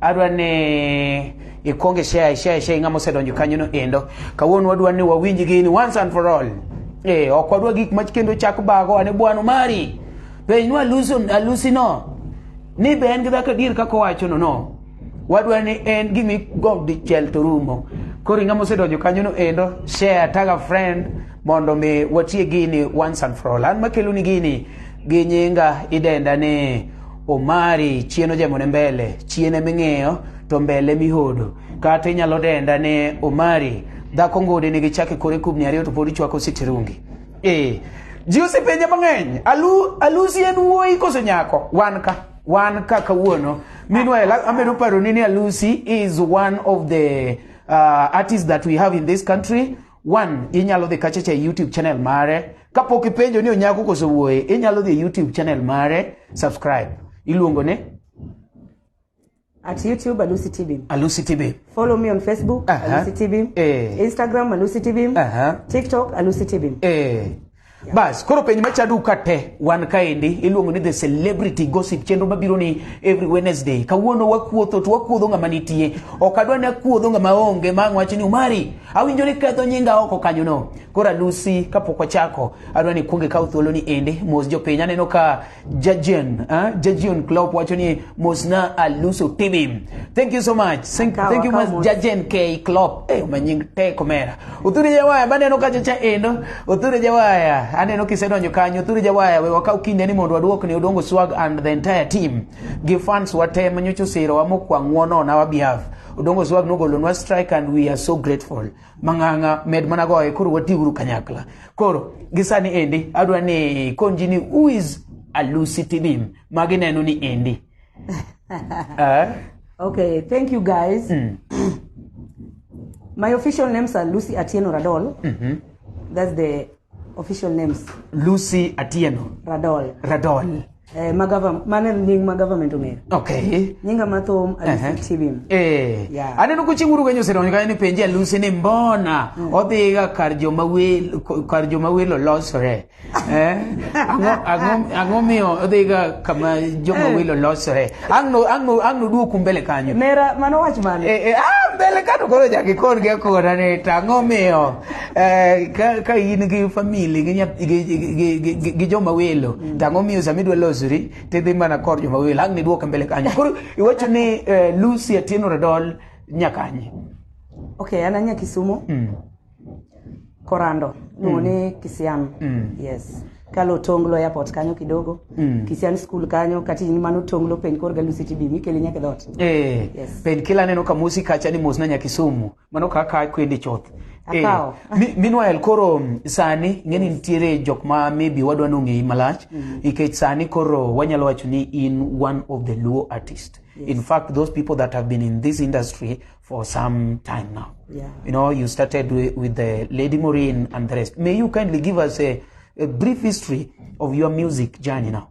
adwa ni ikwonge share share share ng'ama osedonjo kanyo no endo kawuono wadwa ni wawinj gini once and for all eh ok wadwa gik ma kendo chak bago ane bwano mari penj nwa luso alusi no ni be en gi dhako dir kaka owacho no no wadwa ni en gimi gomb dichiel to rumo koro ng'ama osedonjo kanyo no endo share tag a friend mondo mi watie gini once and for all an makelo ni gini gi nyinga idenda ni Omari chien ojemone mbele chien eming'iyo to mbele mihodo kata inyalo denda ni Omari dhako ngode nigi chake kore kubni ariyo to pod ichwako sitirungi eh ji osepenje mang'eny alu alusi en wuoyi koso nyako wan ka wan ka kawuono meanwhile amedo paro ni ni alusi is one of the uh, artists that we have in this country one inyalo dhi kachacha e youtube channel mare kapok ipenjo ni onyako koso wuoye inyalo dhi e youtube channel mare subscribe iluongo ne At YouTube, Alusi TV. alusi tv Follow me on Facebook, Aha. Alusi TV. Eh. Instagram, Alusi TV. Aha. TikTok, Alusi TV. Eh. bas koro penj machadu ka te wan kaendi iluongo ni the celebrity gossip chenro mabiro ni every wednesday kawuono wakuotho to wakuodho ng'ama nitie ok adwa ni akuodho ng'ama onge ma ang' wacho ni umari Awinjo ni ketho nyinga oko kanyono. Koro adusi kapok wachako, adwa ni kuonge kaw thuolo ni ende mos jopiny. Aneno ka Jajion, ah, Jajion Klopp wacho ni mos na aluso TV. Thank you so much. Thank, Kawa, thank you kawa much mos. Jajen K Klopp. Eh, manying tek omera. Uthure jawaya baneno kacha cha endo. Uthure jawaya. Aneno kisedonjo kanyo. Uthure jawaya we wakaw kinde ni mondo waduok ne Odongo Swag and the entire team. Gi fans wate manyocho siro wa mokwang' ng'wono on our behalf. Odongo Swag nogolonwa strike and we are so grateful. Mang'ang'a med mana goye koro watiuru kanyakla. Koro gisani endi adwa ni konji ni who is Alusi TV magi neno ni endi. uh, okay, thank you guys. Mm. My official names are Lucy Atieno Radol. Mm -hmm. That's the Official names. Lucy Atieno. Radol. Radol. Eh, ma government, mane nying ma government ong'eyo. Okay. Nyinga mathum Alusi uh-huh. Tibim. Eh. Yeah. Aneno kuching uru kanyo sero nyika ni penje Alusi ni mbona mm. odhiga kar joma wel kar joma welo losore. eh? Ango ango ango miyo odhiga kama joma eh. welo losore. Angno angno angno duoku mbele kanyo. Nera mano wach mane? Eh, eh ah mbele kanyo koro jakikon gi akora ni tango miyo. Eh, ka, ka in gi famili gi, nyath- gi, gi, gi, gi, gi, gi joma welo mm. tang'o miyo sama idwa losori tidhi mana kor joma welo ang' niduoke mbele kanyo koro iwacho ni eh, lucy atieno radol nyakanye Okay, an anya Kisumu, mm. Korando, luongo ni Kisian. Mm. Yes. Kalo Tonglo airport kanyo kidogo. Mm. Kisian school kanyo kati ni mano Tonglo penj korga Lucy TB mikele nyaka dot. Eh, Yes. penkila aneno ka mosi kacha ni mos na nyakisumu mano kaka akwedi chuth eh, meanwhile koro mm, sani ing'eni nitiere jok ma maybe wadwa ni ong'eyi malach mm. nikech sani koro wanyalo wacho ni in one of the luo artist yes. in fact those people that have been in this industry for some time now yeah. you know you started with, with the lady Maureen and the rest may you kindly give us a, a brief history of your music journey now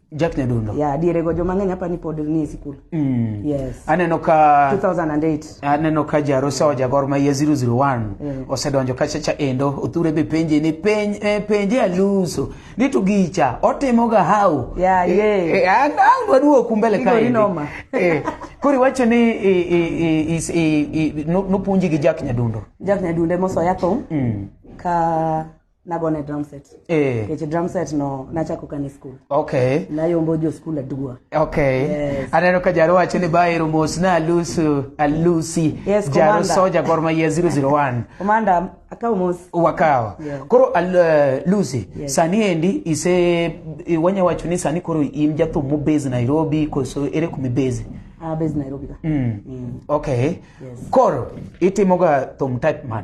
Jack Nyadundo. Yeah, diere go joma ng'eny hapa ni pod ni e sikul. Mm. Yes. Aneno ka 2008. Aneno ka Jarosa wa Jagor ma ye 001 yeah. osedonjo ka chacha endo othure be penje ni penj eh, penje aluso ni to gicha otimo ga hau. Yeah, eh, yeah. Eh, an an waduo kumbele ka. Igori noma. Eh. Kuri wacho ni i i i i no punji gi Jack Nyadundo. Jack Nyadundo mo so yathum. Mm. Ka nagone drum set eh nikech drum set no nachako kane school okay nayombo jo school aduwa okay Yes. aneno ka jaro wacho ni baero mos na alusu alusi Yes, jaro Commander. soja gor mahia 001 komanda akaw mos wakawa Yeah. koro al, uh, lucy Yes. sani endi ise i- wanya wacho ni sani koro in jathum mobase nairobi koso ere kuma ibase abes nairobi ka mm. okay Yes. koro itimoga thum type man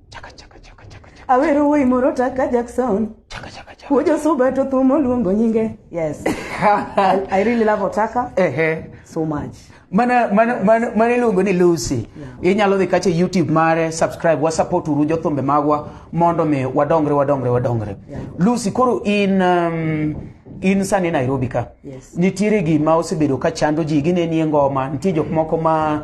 awero wuoyi moro taka jackson wuojo suba to thumo luongo nyinge yes I, i really love otaka ehe so much mana mana mana mana iluongo ni Lucy inyalo dhi kacha e YouTube mare subscribe wa support uru jothumbe magwa mondo mi wadongre wadongre wadongre Yeah. Lucy koro in um, in sani Nairobi ka Yes. nitiere gima osebedo ka chando ji ginenie ngoma nitie jok moko ma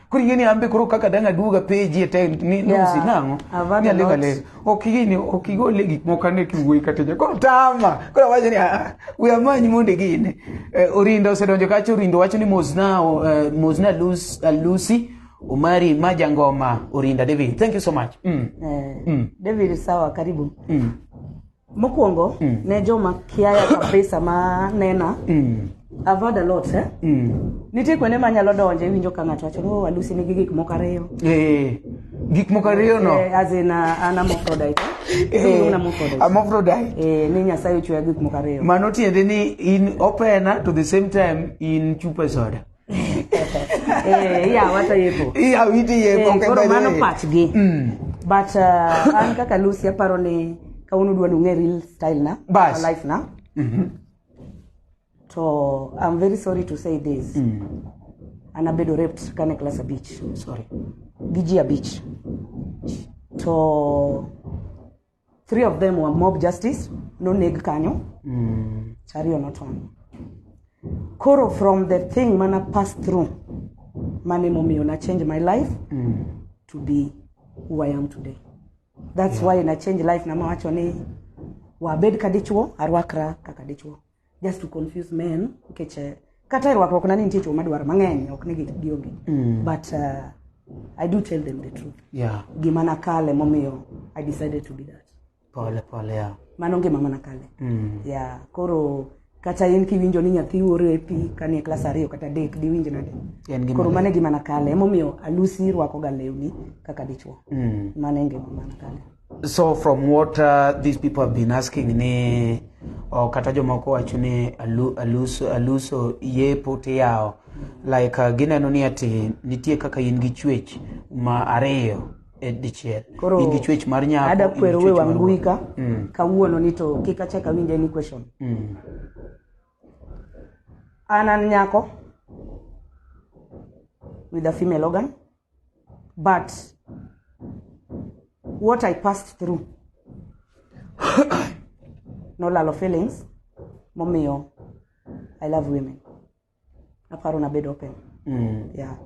kuri gini ambe koro kaka dang' aduoga peji e te ni nusi Yeah, nang'o I've had ni a alega lot. lega ok gini ok igole gik moko ane kiwuoyi kata ja koro tama koro awacho ni "Ah, we amanyi mondo gine Eh, orinda osedonjo kacha orinda wacho ni mosna o, eh, mosna Lus- eh, lucy omari ma jangoma orinda david thank you so much mm. Eh, David sawa karibu Mm. Mokwongo mm. ne joma kiaya kabisa ma nena mm. I've heard a lot eh? mm. Nitie kuonde ma nyalo donje iwinjo ka ng'ato wacho ni oh, Alusi nigi gik moko ariyo. Eh. Gik moko ariyo no. Eh, as in uh, an hermaphrodite. Eh, eh un hermaphrodite. Hermaphrodite. Eh, ni Nyasaye ochweya gik moko ariyo. Mano tiende ni in opena to the same time in chupa soda. Eh, iya wata yepo iya witi yepo eh, koro mano pachgi mm. but uh, an kaka lucy aparo ni kawuono dwa nong'e real style na Bas. life na mm -hmm. to i'm very sorry to say this mm. an abedo raped kane class abich sorry gi ji abich to three of them were mob justice noneg kanyo Mm. chariyo notony koro from the thing mana pass through mane momiyo na change my life Mm. to be who i am today that's why na change life namawacho ni wabed ka dichuo arwakra kaka dichuo just to confuse men nikech eh, kata e rwakruok na ni nitie chwo madwaro mang'eny ok ni gi- gionge Mm. but uh, i do tell them the truth Yeah. gima nakale momiyo i decided to be that Pole pole ya. mano ngima mana kale Mm. ya koro kata in kiwinjo ni nyathi orepi kanie klas ariyo kata adek diwinj nade En gima koro mano e gima nakale emomiyo alusi rwakoga lewni kaka dichwo Mm. mano e ngima mana kale So from what uh, these people have been asking ni oh, kata jomoko wacho ni alu, aluso, aluso yepo tiyawo like uh, gineno ni ati nitie kaka in gi chwech ma ariyo e dichiel Koro, in gi chwech mar nyako ada in gi kwero we chwech mar wangui wuoyi. ka Mm. kawuono ni to kik achak awinj any question Mm. an an nyako with a female organ but what i passed through nolalo feelings momiyo i love women aparo nabedo open mm. yeah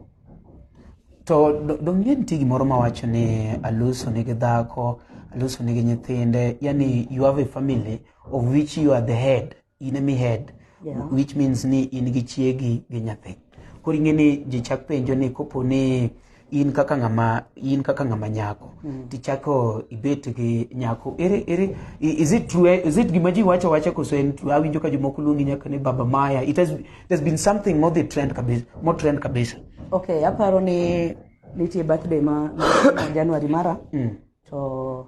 to dong'e nitie gimoro mawacho ni aluso nigi dhako aluso nigi nyithinde yani you have a family of which you are the head in emi head Yeah. which means ni in gi chiegi gi nyathi koro ing'e ni ji chak penjo ni kopo ni in kaka ng'ama in kaka ng'ama nyako tichako ibet gi nyako ere ere i- is it true is it gima ji wacho wacha koso en true awinjo ka jomoko luongi nyaka ni baba maya it has, it has been something more the trend kabisa more trend kabisa okay aparo ni nitie birthday ma ma january mara to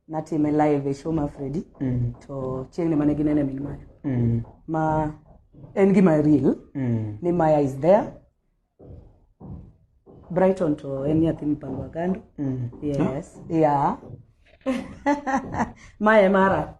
natime live e show ma Freddy Mm. to chieng' ne mane ginene min maya Mm. ma en gima real Mm. ni maya is there Brighton to en nyathi mipango agando Mm. yes yeah maya e mara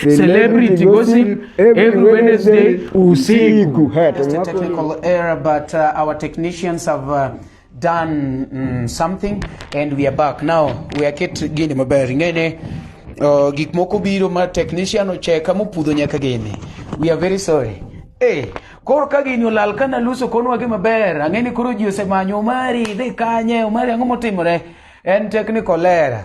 Celebrity gossip every Wednesday usiku. Technical error but uh, our technicians have uh, done mm, something and we are back now we are get gini maber ngene uh, gik moko biro ma technician ocheka mopudho nyaka gini we are very sorry eh koro ka gini olal kana luso konwa gi maber ang'eni koro ji osemanyo omari dhi kanye omari ang'o motimore en technical error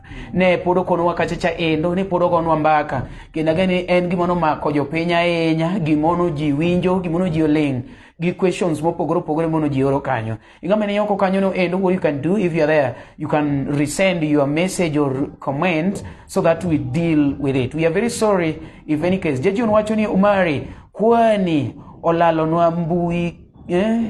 ne pod okonwa kacha cha endo ne pod ogonwa mbaka kendo ageni en gima nomako jopiny ahinya gimono ji winjo gimono ji oling gi questions mopogore opogore mono ji oro kanyo ingama ne yoko kanyo no endo what you can do if you are there you can resend your message or comment so that we deal with it we are very sorry if any case jaji wacho ni umari kwani olalonwa mbui eh?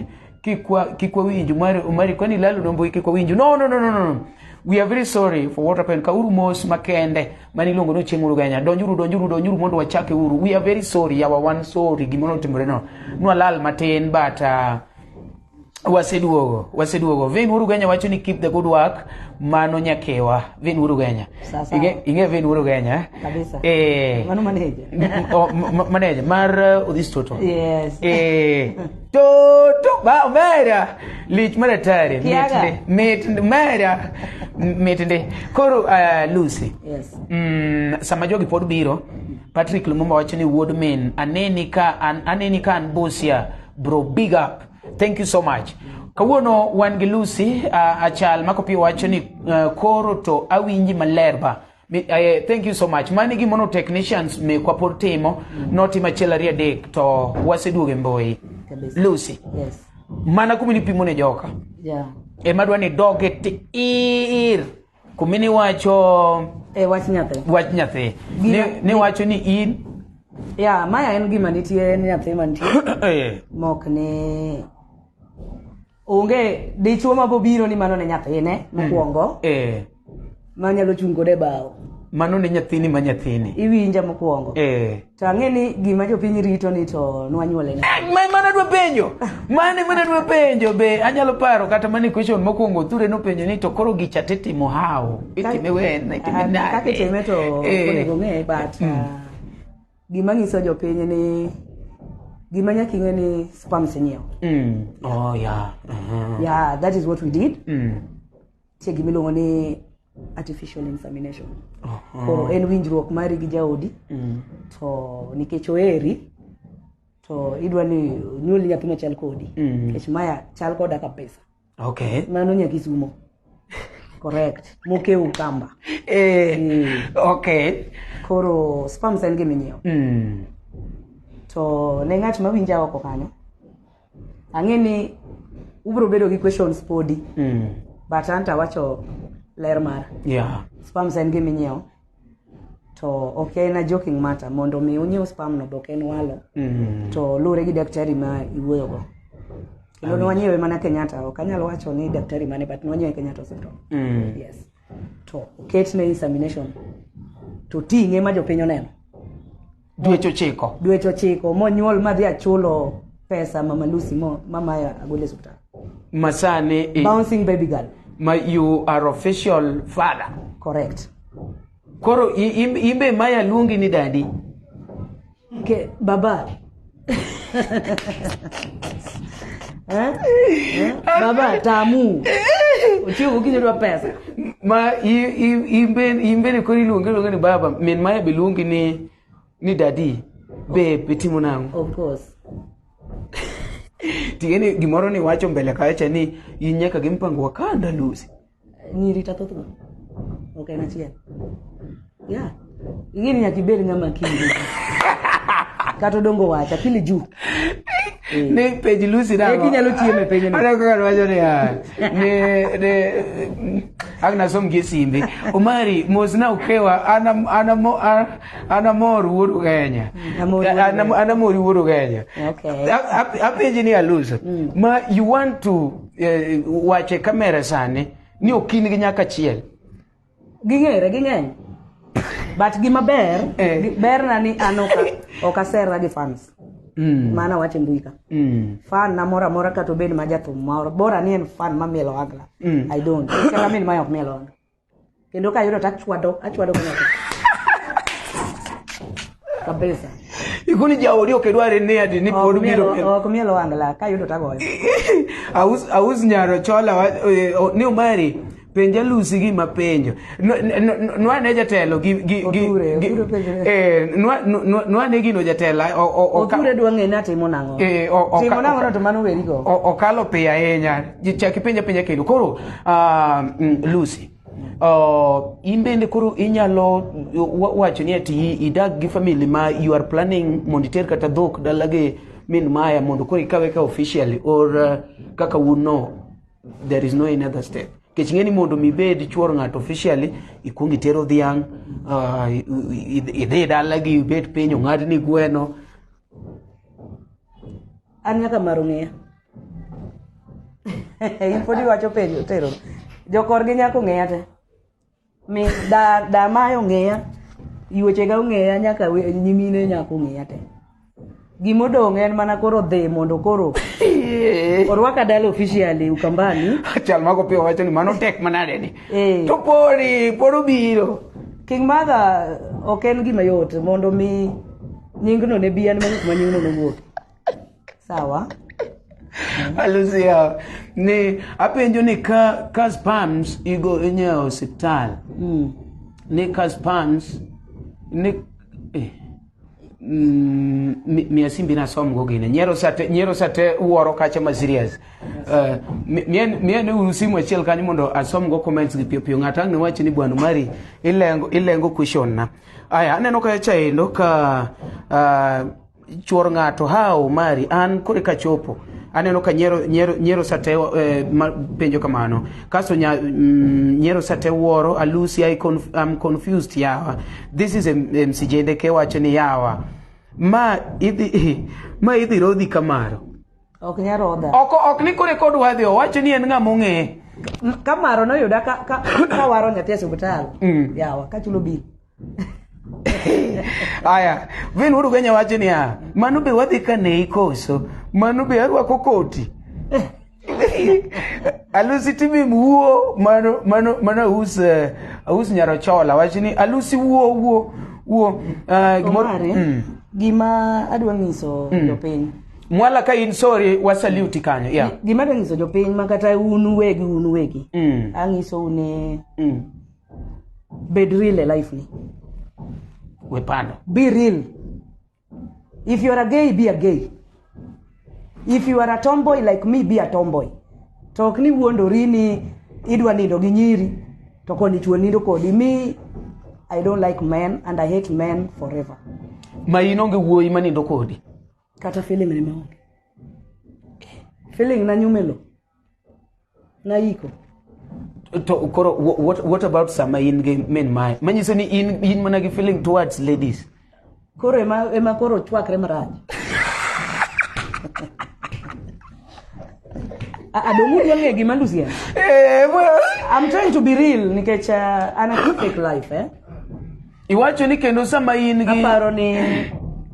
kikwa kikwa winju mari mari kwani lalo nombo kikwa winju no no no no no we are very sorry for what happened kauru mos makende mani longo no chieng uruganya donjuru donjuru donjuru mondo wachake uru we are very sorry yawa wan sorry gimoro otimore no nwa lal matin but uh, waseduogo waseduogo vin urugenya wacho ni keep the good work mano nyakewa vin urugenya Sawa sawa. inge inge vin urugenya eh? Kabisa. eh Mano maneja. m- m- o- m- m- manager mar uh, odhis toto Yes. eh Toto ba omera lich mar atari Kiaga. mit ndi mera mit ndi koro uh, Lucy Yes. mm, sama jogi pod biro Patrick Lumumba wacho ni wuod min aneni ka an, aneni ka an Busia bro big up thank you so much kawuono wan gi Lucy uh, achal makopi wacho ni uh, koro to awinji maler ba Eh, thank you so much mani gimono technicians mekwa pod timo notimo achiel ariyo adek to waseduogo e mbui lucy yes. mana kumi nipimo ne joka yeah. ema dwa ni doge tiir kumi niwacho e, eh, wach nyathi wach nyathi niwacho ni in ya maya en gima nitie ni nyathi mantie eh. mok ni onge dichwo ma bobiro ni mano ne nyathine mokwongo eh, ma nyalo chung' kode e bao mano ne nyathini ma nyathini iwinja mokwongo eh. to ang'e ni gima jopiny rito ni to nwanyuole na Eh, ma- mana dwa penjo mane mana dwa penjo be anyalo paro kata mane question mokwongo othure nopenjo ni to koro gicha titimo how itime wen itime Ah, nade kaka itime to Eh. onego ng'e but ah, gima nyiso jopiny ni gima nyaka ing'e ni sperms inyiewo Mm. Oh, yeah. Uh-huh. yeah that is what we did Mm. tie gima iluongo ni artificial insemination Uh-huh. koro en winjruok mari gi jaodi Mm. to nikech oheri to idwa ni nyuol nyathi machal kodi Mm. nikech maya chal koda kabisa okay mano nyakisumo correct moke ukamba eh, mm. okay koro spams en giminyiewo mm. to ne ng'at ma winja oko kanyo ang'e ni ubiro bedo gi questions podi mm. but anta wacho ler mara yeah. spams en giminyiewo to ok en a joking matter mondo mi unyiew spam no be ok en walo Mm. to luwore gi daktari ma iwuoyogo kendo ne wanyiewe mana kenyatta ok anyal wacho ni daktari mane but ne wanyiewe kenyatta hospital Mm. yes to oketne insemination to ting'e ma jopiny oneno dweche ochiko dweche ochiko monyuol madhi achulo pesa mama lucy mo mama agole supta masani i- bouncing baby girl ma you are official father correct koro i- im- imbe maya luongi ni dadi Ke, baba Eh? Eh? Baba tamu. Ochiwo gokinyi odwa pesa. Ma i- i- imbe- imbeni koro iluonge luonge ni baba min maya be luongi ni ni dadi be be timo nang'o Of course. ting'eni gimoro ni wacho mbele kacha ni in nyaka gi mpango wa kanda lusi nyiri ta thoth go ok en achiel ya ing'eni nyaka ibed ng'ama kinde kata odongo wacha pili juu ni pej lusi na Eki nyalo chiemo e penyno. ana kaka wacho ni ah, ni ni agna som gi simbi omari mos na ukewa ana ana mo- a- ana mor wuoru kenya Amor wuoru Ana- Kenya. ana mor wuoru kenya Okay. A- a- apenji ni aluso ma you want to eh, wache kamera sani ni okin gi nyaka chiel ging'ere ging'eny but gima ber eh. gi- berna ni an ok a- ok aserra gi fans Mm. mana wacho e mbui ka Mm. fan na moro amora kata obed ma jathum moro bora ni en fan mamielo agla Mm. i don't kata min ma ok mielo agla kendo kayudo to achwado achwado kanyako kabisa ikuni jaodi ok idware ni adi ni pod biro ok miel wangla kayudo to agoyo aus aus nyaro chola eh, ni umari penja lusi gi ma penjo nwa ne jatelo gi gi gi eh nwa nwa ne gino jatela o o o ture duange na timo nango eh, timo nango to mano weri go o kalo pe ahinya chak ipenja penja kendo koro uh, mm, lucy Uh, in bende koro inyalo wa- wacho ni ati idag gi family ma you are planning mondo iter kata dhok dalagi min maya mondo koro ikawe ka officially or uh, kaka un no there is no any other step kech ng'eni mondo mibed chuor ng'ato officially ikwong itero dhiang' uh, i- i- idhi dalagi ibet piny ong'adni gweno an nyaka maro ng'eya in pod iwacho penjo tero jokorgi nyaka ong'eya te mi da da mayo ong'eya yuechega ong'eya nyaka we- nyimine nyaka ong'eya te gimodong' en mana koro dhi mondo koro orwaka dala officially ukambani chal mago piyo wacho ni mano tek manade ni Eh. to podi pod obiro king mother ok en gima yot mondo mi nyingno ne bi an manyo kuma nyingno nowuok sawa alusia ni apenjo ni ka ka spams igo inyewo osiptal mm. ni ka spams ni eh. Mm, mia simbi na som go gine nyero sate nyero sate uoro kacha ma serious uh, mien mien usimu achiel kanyo mondo asom go comments gi pio pio ngata ne wachi ni bwana mari ilengo ilengo question na Aya, aneno ka chaendo ka uh, chuor ng'ato ha Omari an kore ka chopo aneno ka nyero, nyero, nyero sate eh, ma, penjo kamano kasto nya, mm, nyero sate wuoro alusi I conf, I'm confused yawa this is msijende ke wacho ni yawa ma idhi ma idhi rodhi kamaro Ok nyal rodha. Ok ok ni kore kod wadhi owacho ni en ng'a mong'eye. Ka maro noyuda ka ka, ka waro nyathi e osiptal. Mm. Yawa ka chulo bil. Aya, vin wudu ganya wacho niya, mano be wadhi ka ne ikoso, mano be arwako koti. alusi timi wuo mano mano mano aus eh, aus nyarochola wacho ni alusi wuo wuo wuo eh, gimoro- Omari, Mm. gima adwa nyiso Mm. jopiny mwala ka in sorry wasaluti kanyo yeah. Gi- gima dwa nyiso jopiny ma kata un uwegi un uwegi mm. anyiso une mm. bed real e life ni we pando be real if you are a gay be a gay if you are a tomboy like me be a tomboy to ok ni wuondori ni idwa nindo gi nyiri to koni chuo nindo kodi me i don't like men and i hate men forever ma in onge wuoyi manindo kodi kata feeling ne maonge feeling na nyumelo na iko to koro wha- what, what about sama in gi min maye manyiso ni in, in mana gi feeling towards ladies koro ema, ema koro chwakre marach adongu duong'e gima lusian Eh, well. I'm trying to be real nikech uh, an a fake life eh? Iwacho ni kendo sama in gi aparo ni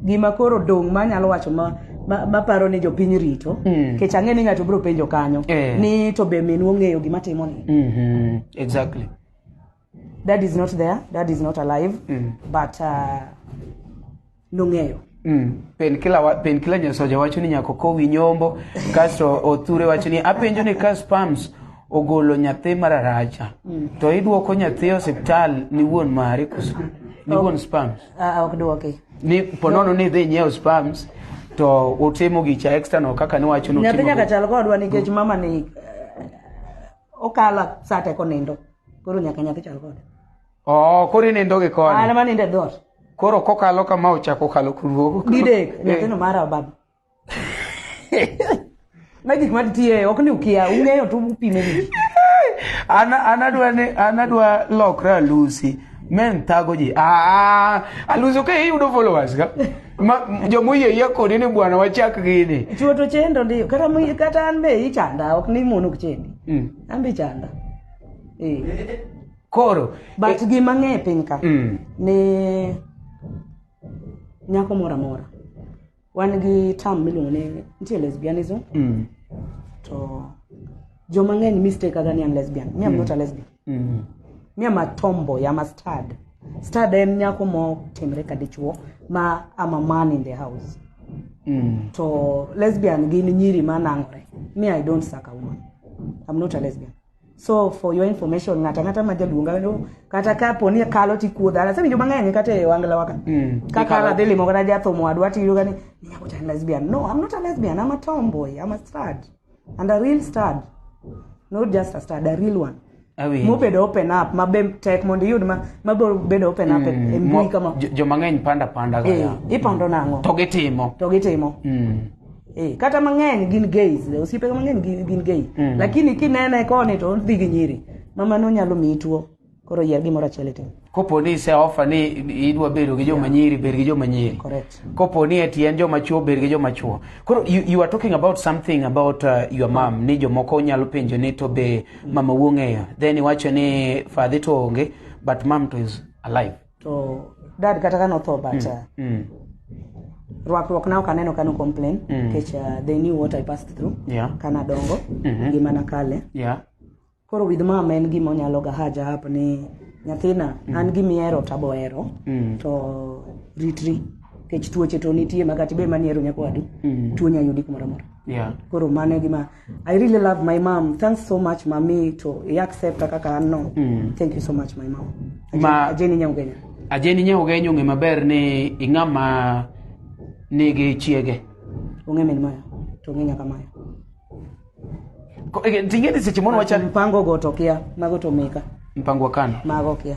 gima koro dong' ma anyalo wacho ma ma- maparo ni jopiny rito Mm. kech ang'e ni ng'ato biro penjo kanyo Eh. ni to be minwa ong'eyo gima timoni Mhm, exactly dad is not there dad is not alive Mm. but uh, nong'eyo Mm. Penkila wa, penkila nyasoja wacho ni nyako kowi nyombo kasto othure wacho ni apenjo ni ka spams ogolo nyathi mararacha mm. to iduoko nyathi e osiptal ni wuon mare koso ni wuon spams Ah, ah, ok dwoki ni ponono ni idhi nyiewo spams to utimo gicha external kaka niwacho nyathi nutimo nyaka chal kodwa nikech mama ni eh, okala sate konindo koro nyaka nyathi chal kode Oh, koro inindo gi koni. An manindo e dhoot. Koro kokalo kama ochako okalo kuruogo. Didek, eh. nyathino mara baba. Ma gik ma tiye ok ni ukia, ung'eyo to upime gi. An an adwa ni an adwa lokra alusi. Men thago ji. Ah, alusi ok iyudo followers ka. Ma jomoyie yie kodi ni bwana wachak gini. Chuo to chendo ndi kata kata an be ichanda ok ni mono chendi. Mm. An be chanda. Eh. koro but e, gima ng'e piny ka mm. ni nyako moro amora wan gi tam miluongo ni nitie lesbianism mm. to joma ng'eny mistake aga ni an lesbian mi am mm. not a lesbian mm. mi am a tomboy am a stad stad en nyako motimre ka dichuo ma am a man in the house mm. to lesbian gin nyiri ma nang'ore mi i don't suck a woman am not a lesbian so for your information ng'ata ng'ata ma jaluonga wendo kata ka po ni kalo ti kuodha ala sani joma ng'eny kata e wangla waka mm. ka kala dhi limo kata jathomo wadwa ti yuga ni nyako chan lesbian no i'm not a lesbian i'm a tomboy i'm a stud and a real stud not just a stud a real one mobedo open up ma be tek mondo iyud ma ma bedo open up mm, e mbui kama jomang'eny panda panda ga eh, ipando nang'o to gitimo to gitimo mm. Eh, kata mang'eny gin gays osiepe mang'eny gin, gin gay mm. lakini kinene koni to odhi gi nyiri mama no nyalo miyi tuo koro yier gimoro achiel itim kopo ni ise ofa ni idwa bedo gi joma nyiri bed gi joma nyiri kopo ni eti en joma chuo bed gi joma chuo koro you, you are talking about something about uh, your mom ni jomoko nyalo penjo ni to be mama wuong'eyo then iwacho ni fadhi to onge but mam to is alive to dad kata ka notho but uh, Mm. rwakruok na ok aneno ka no complain Mm. nikech uh, they knew what i passed through Yeah. kana dongo Mhm. ngima na kale Yeah. koro with mama en gima onyalo ga haja hap ni nyathina an gimihero tabohero Mm. to ritri nikech tuoche to nitie makati be maniero nyakwadu Mm. tuo nyayudi kumoro amora Yeah. koro mano e gima I really love my mom. Thanks so much mami to i accept kaka an no. Mm. Thank you so much my mom. Ajeni, Ma- ajeni nyaugenya. Ajeni nye ugenyo ng'e maber ni ing'ama nigi chiege. Onge min maya. To onge nyaka maya. Ko- eh, Ting'e ni seche moro wachal Mpango go to kia, mago to meka. mpango wa kano mago kia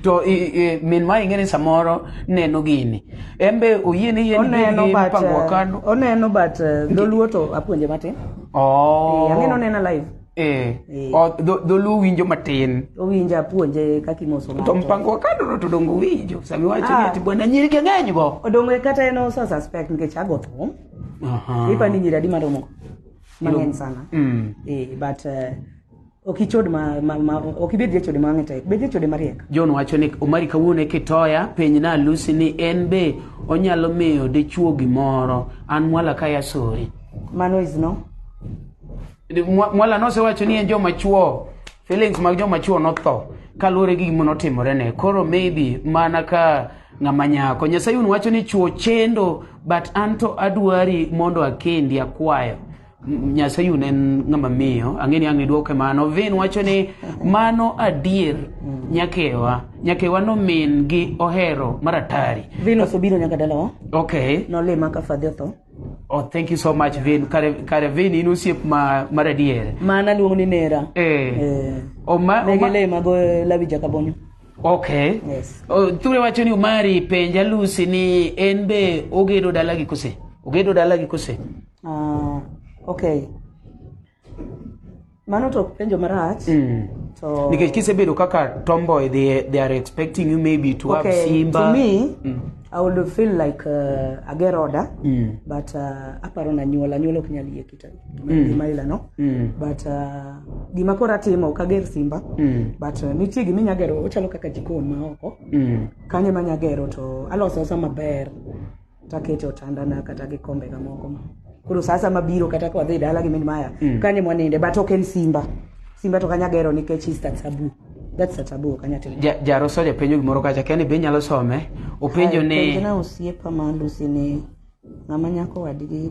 to i- i- min ma ing'e ni samoro neno gini en be oyie ni yie ni gini oneno gin but mpango wa eh, kano oneno but eh, dholuo to apuonje matin Oh. Eh, ang'eni onena live Eh. Eh. O, dho- dholuo winjo matin owinjo apuonje kaka imoso to ng'ato. mpango wa kano no to dongo winjo sami wacho ni Ah. ati bwana nyiri gi ng'eny go odongo kata en osa suspect nikech ago thum Aha. ipa ni nyiri adi maromo mang'eny sana Mm. eh, but eh, Ok ichod ma, ma, ma ok ibed jachode ma wang'e tek. Bed jachode mariek. John wacho ni Omari kawuono e kitoya penj na Lucy ni en be onyalo miyo dichuo gimoro an mwala ka yasori. Mano is no. Mwa- Mwala nosewacho ni en joma chuo feelings mag joma chuo notho kaluwore gi gima notimore ne koro maybe mana ka ng'ama nyako Nyasaye un wacho ni chuo chendo but anto adwari mondo akendi akwayo Nyasaye un en ng'ama miyo ang'e ni ang' idwoke mano vin wacho ni mano adier nyakewa nyakewa nomin gi ohero maratari vin osobiro nyaka dalawa okay nolima ka fadhi otho Oh, thank you so much Vin. Kare, kare Vin in osiep ma mar adier. Mana luong ni nera. Eh. eh. Oma, oma. Negele mago lawi jakabonyo. Okay. Yes. Oh, Ture wacho ni Omari penja Lucy ni en be ogedo dalagi kose? Ogedo dalagi kose? Ah, okay. Mano to penjo marach. To Nikech kisebedo kaka tomboy they, they are expecting you maybe to have okay, Simba. to me I would feel like uh, ager oda Mm. but uh, aparo na nyuol anyuol ok nyal yie Mm. gima ila no Mm. but uh, gima koro atimo ok ager simba Mm. but uh, nitie gima inya gero ochalo kaka jikon ma oko Mm. kanyo ema anya gero to aloso asa maber takete otandana kata gi kombe ga moko ma koro saa sama biro kata ka wadhi dala gi min maya Mm. kanyo ema waninde but ok en simba simba to kanya gero nikech is that taboo that's a taboo kanya timo Ja- jaroso japenjo gimoro kacha kia ni be inyalo some openjo ni Penjna osiepa ma Lucy ni ng'ama nyako wadgi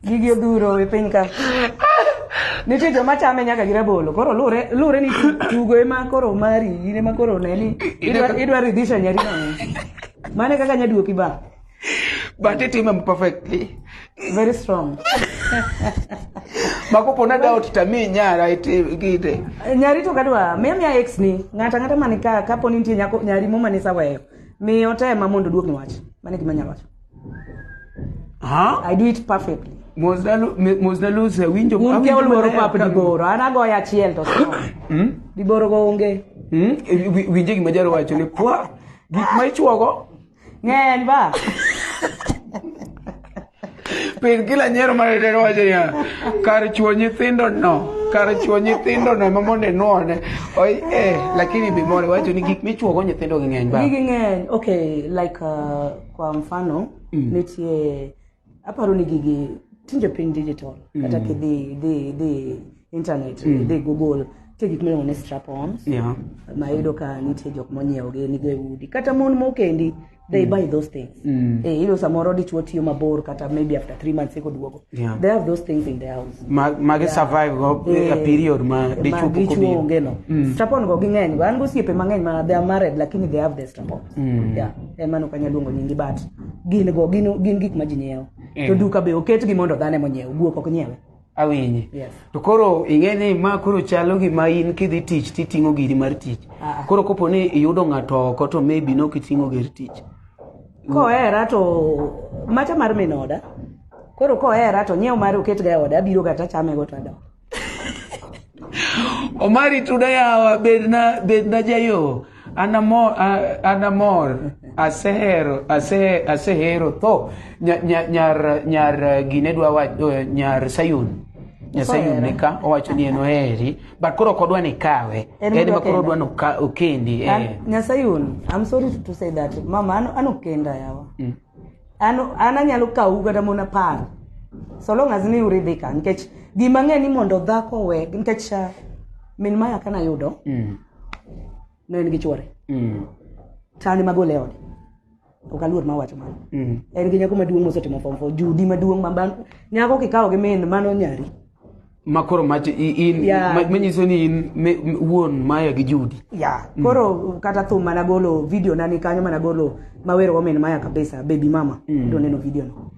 Gigi odhuro e piny ka. Nitie joma chame nyaka gi rabolo. Koro lure lure ni tugo ema koro mari, in ema koro ne ni idwa idwa ridhisha nyari mang'eny. Mane kaka nyaduoki ba. But it him perfectly. Very strong. Makopo na doubt tami nyara ite gite. Nyari to kadwa, mimi ya ex ni, ngata ngata manika kapo ni nitie nyako nyari moma ni saweyo. Miyo tema mondo duok ni wach. Mane gima nyalo wacho. Huh? I do it perfectly. Mosnalu se winjo un ke oluoro pap diboro an agoyo achiel to hmm? diboro go onge hmm? winje gima jaro wacho ni pwa gik ma ichuogo ng'eny ba piny kila nyiero maretero wacho niya kar chuo nyithindo no kar chuo nyithindo no ma mondo inwone oi eh lakini bimore wacho ni gik michuogo nyithindo gi ng'eny ba gigi ng'eny okay like uh, kwa mfano mm. nitie aparo ni gigi tinde piny digital mm. kata kidhi dhi dhi internet mm. dhi google nitie gik miluongo ni strapons yeah. ma iyudo ka nitie jok monyiewogi nigo e udi kata mon mokendi they mm. buy those things mm. eh, ilo samoro dichuo tiyo mabor kata maybe after three months eko duogo yeah. they have those things in their house ma, magi yeah. survive go eh, a period ma dichuo onge no mm. strapon go ging'eny go an gosiepe mang'eny ma they are married lakini they have the strapon Mm. yeah. en mano kanya luongo nyingi but gin go gin, gin gik ma ji nyiewo Mm. to duka be oketgi mondo dhano ema onyiew guok ok nyiewe awinji yes to koro ing'e ni ma koro chalo gima in kidhi tich titing'o giri mar tich Ah. koro kopo ni iyudo ng'ato oko to maybe nok iting'o gir tich kohera to macha mar min oda koro kohera to nyiew mare oketga e oda abiro kata chamego to adok Omari tuda yawa bedna bedna jayo anamor anamor asehero ase asehero tho nyar nyar nyar gine dwa wacho eh, nyar Sayun Sayun ne ka owacho ni en oheri but koro ok odwa ni kawe en ma koro odwa ni okendi eh. Nyasayun I'm sorry to say that mama anokenda yawa mm. an an anyalo kawu kata mon apar so long as ni uridhi ka nikech gima ng'e ni mondo dhako we nikech ah, min maya kana yudo Mm. ne en gi chwore Mm. tani magole e ode ok aluor ma wacho mano Mm. en gi nyako maduong' mosetimo form four judi maduong' ma ban- nyako kikawo gi min mano nyari ma koro mach in yeah. manyiso ni in wuon maya gi judi ya yeah. mm. koro kata thum mana golo video na ni kanyo mana golo mawero women maya kabisa baby mama mm. do neno video no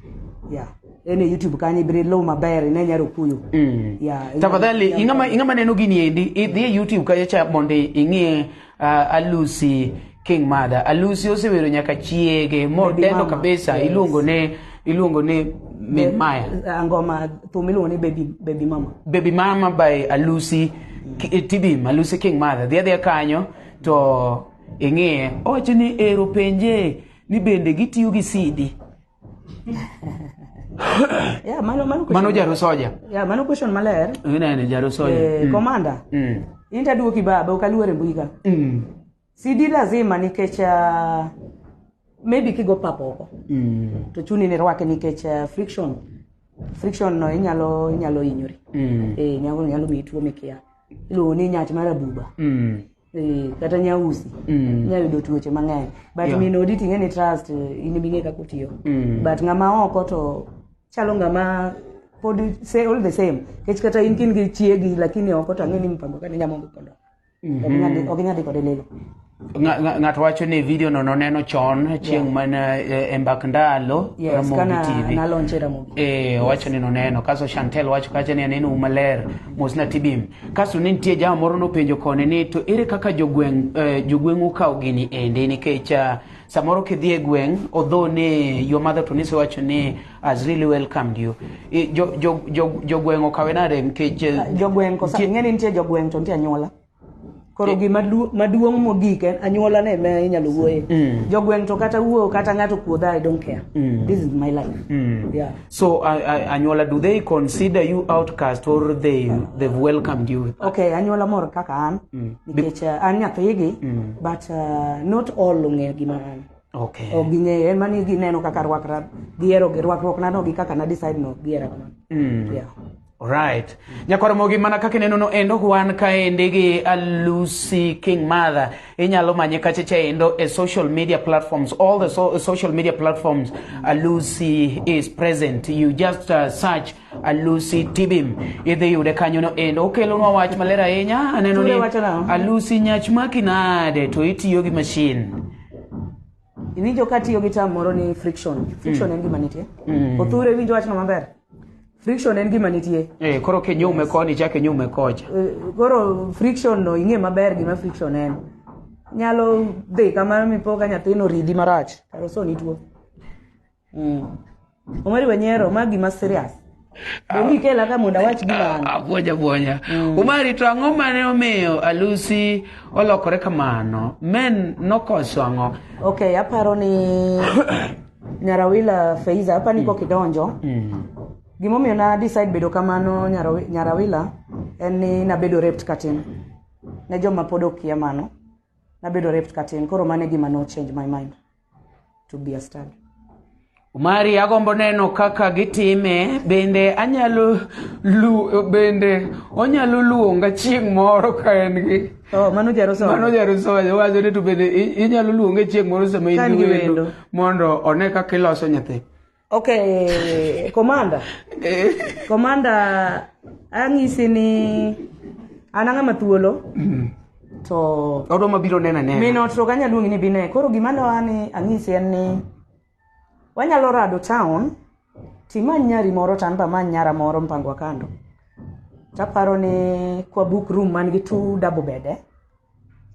ya yeah. ene youtube kanyo ibire low maber ine nyaro kuyo mm. ya yeah, tafadhali ingama ingama neno gini endi idhi e youtube kanyo cha mondo ing'e Uh, alusi king mada alusi osewero nyaka chiege modendo kabisa yes. iluongo ne iluongo ni min maya uh, ngoma thum iluongo ni baby, baby mama baby mama by alusi mm. tibim alusi king mother dhi adhiya kanyo to ing'iye owacho ni ero penje ni bende gitiyo gi sidi yeah, mano, mano, mano jaro soja yeah, mano question maler inene jaro soja eh, mm. komanda mm. in taduoki baba ok aluore mbui ka mm. sidi lazima nikech uh, maybe kigo papo oko mm. to chuni ni rwake nikech uh, friction friction no inyalo inyalo hinyori mm. eh, nyalo, nyalo miyi tuo mikia iluongo ni nyach mar abuba mm. eh, kata nyausi Mm. inyalo yudo tuoche mang'eny but Yeah. min odi ting'e ni trust eh, in bing'e kaka otiyo Mm. but ng'ama oko to chalo ng'ama pod say all the same kech kata in kin gi chiegi lakini oko to ang'e ni mpango kane nyamongo kondo Mhm. ok inyadhi kode lilo Nga- nga- ng'ato wacho ni video no noneno chon chieng' mana eh, e mbak ndalo yes Ramogi kana TV. nalonche ramogi Eh, owacho ni noneno kaso chantel wacho kacha ni aneno umaler mosna tibim Kasto ne nitie jama moro nopenjo koni ni to ere kaka jogweng' eh, jogweng'u kawo gini endi nikech ah, samoro kidhi e gweng' although ni your mother to nisewacho ni has really welcomed you I- jo- jo- jo- jogweng' okawe nade nikech eh, jogweng' kosa nitie- ing'eni nitie jogweng' to nitie anyuola koro gima maduong' mogik en anyuola ne me inyalo wuoye mm. jogweng' to kata wuo kata ng'ato kuodha i don't care mm. this is my life mm. yeah. so uh, uh, anyuola do they consider you outcast or they they've welcomed you okay anyuola moro kaka an mm. nikech uh, an nyathigi mm. but uh, not all ong'eyo gima an okay. ok ging'eyo en mani gineno kaka rwakra gihero gi rwakruokna no gi kaka na decide no gihero kamano mm. yeah. Alright. Nyakwar Mogi mana kaka ineno no endo wan kaendi gi Lucy King Mother. Inyalo manye kache cha endo e social media platforms. All the so social media platforms Lucy is present. You just uh, search Lucy Tibim. Idhi yude kanyo no endo. Okelonwa wach maler ahinya. Aneno ni Lucy nyach maki nade to itiyo gi machine. Iwinjo ka tiyo gi term moro ni friction. Friction en gima nitie. Othure winjo wachno maber. Friction en gima nitie. Eh, koro kinyume koni chak inyume kocha. Eh, Koro friction no ing'e maber gima friction en. Nyalo dhi kamano mipo ka nyathino ridi marach. Karo so ni tuo. Mm. Omari Wanyero, ma gima serious. Donge ikela ka mondo awach gima an. Abuonya buonya. Mm. Omari to ang'o mane omiyo Alusi olokore kamano? Men nokoso ang'o? Okay, aparo ni Nyarawila Feiza, apa ni mm. kok idonjo. Mm. Gima omiyo na decide bedo kamano Nyarawila en ni nabedo raped katin. Ne joma pod okia mano. Nabedo raped katin. Koro mane gima no change my mind. to be a stand. Omari agombo neno kaka gitime bende anyalo lu bende onyalo luonga chieng' moro ka en gi Oh, mano jaro somo. mano jarusoyo wacho ni to bende i- inyalo luonge chieng' moro sama Ka in en gi gi wendo wendo. mondo one kaka iloso nyathi Okay, komanda. komanda ang'isi ni an ang'ama thuolo. To odo mabiro nena nena. Mino to kanya luongi ni bine. Koro gima loa ni ang'isi en ni wanyalo rado town timany nyari moro tan ba many nyara moro mpangwa kando. Taparo ni kwa book room man gi two double bed eh.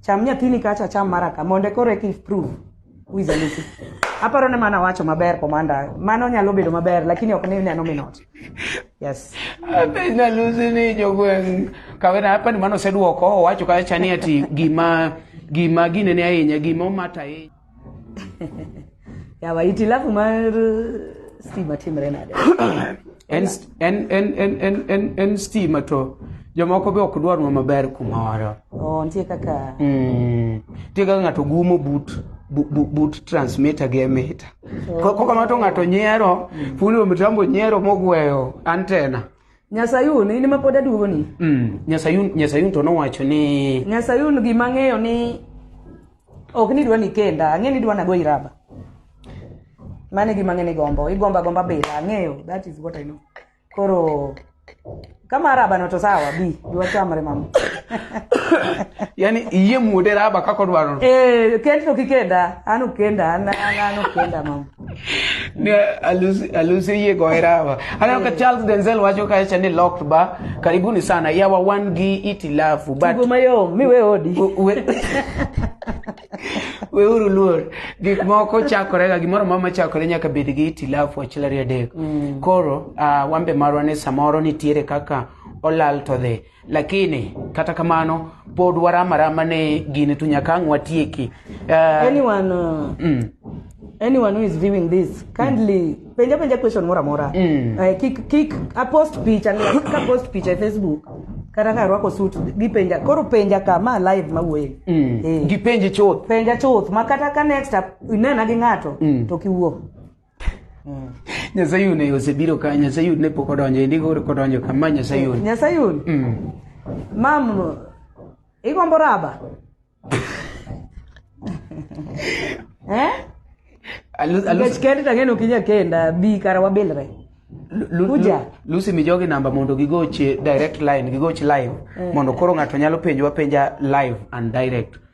Cham nyathini kacha cham maraka monde koro eki prove who is a Lucy. Aparo ne mana wacho maber komanda. Mano nyalo bedo maber lakini ok ni neno minot. Yes. Ape na Lucy ni jogweng kawena hapa ni mano oseduoko owacho kacha ni ati gima gima ginene ahinya gima omata ahinya. yawa hitilafu mar stima timre nade en, st- en, en, en, en, en, en stima to jomoko be ok dwarnwa maber kumoro oh, nitie kaka Mm. nitie kaka ng'ato gumo but bu- bu- but transmitter gi emita kokamano to ng'ato nyiero fundi wa mitambo nyiero mogweyo antena nyasayun in ma pod aduogoni Mm. nyasayun nyasayun to nowacho ni nyasayun gima ng'eyo ni ok ni idwa ni kenda ang'e ni idwa nago iraba mane gima ng'e ni gombo igomba gomba bila ang'eyo that is what i know koro kama raba no to sawa bi dwa chamre mama yani iye mude raba kako dwaro eh kendo kikenda anu kenda an an anu kenda mama alusi yie go erawa aneno ka charles denzel wacho kacha ni locked ba karibuni sana yawa wan gi itilafu but mayom miwe odi weuru luor gik moko chakore ga gimoro mama chakore nyaka bed gi itilafu achiel ariyo adek mm. koro uh, wambe marwa ni samoro nitiere kaka olal to dhi lakini kata kamano pod waramarama ne gini to nyaka ang' watieki uh, anyone uh, mm. anyone who is viewing this kindly mm. penja penja question mora mora mm. uh, kik kik apost picha ka post picha e facebook kata ka arwako sut gipenja koro penja ka ma live ma wuoye mm. eh. gipenji chuth penja chuth ma kata ka next inena gi ng'ato mm. to kiwuo Nyasayun e osebiro ka Nyasayun ne pok odonjo endi koro kodonjo ka ma Nyasayun. Nyasayun. Mm. Mam igombo raba? eh? Alu- alu- Nikech kendi tang'e ni ok inya kenda bi kara wabilre. Lu- Lu- Luja. Lu- Lucy mi jogi namba mondo gigochi direct line, gigochi live. Mondo koro ng'ato nyalo penjwa penja live and direct.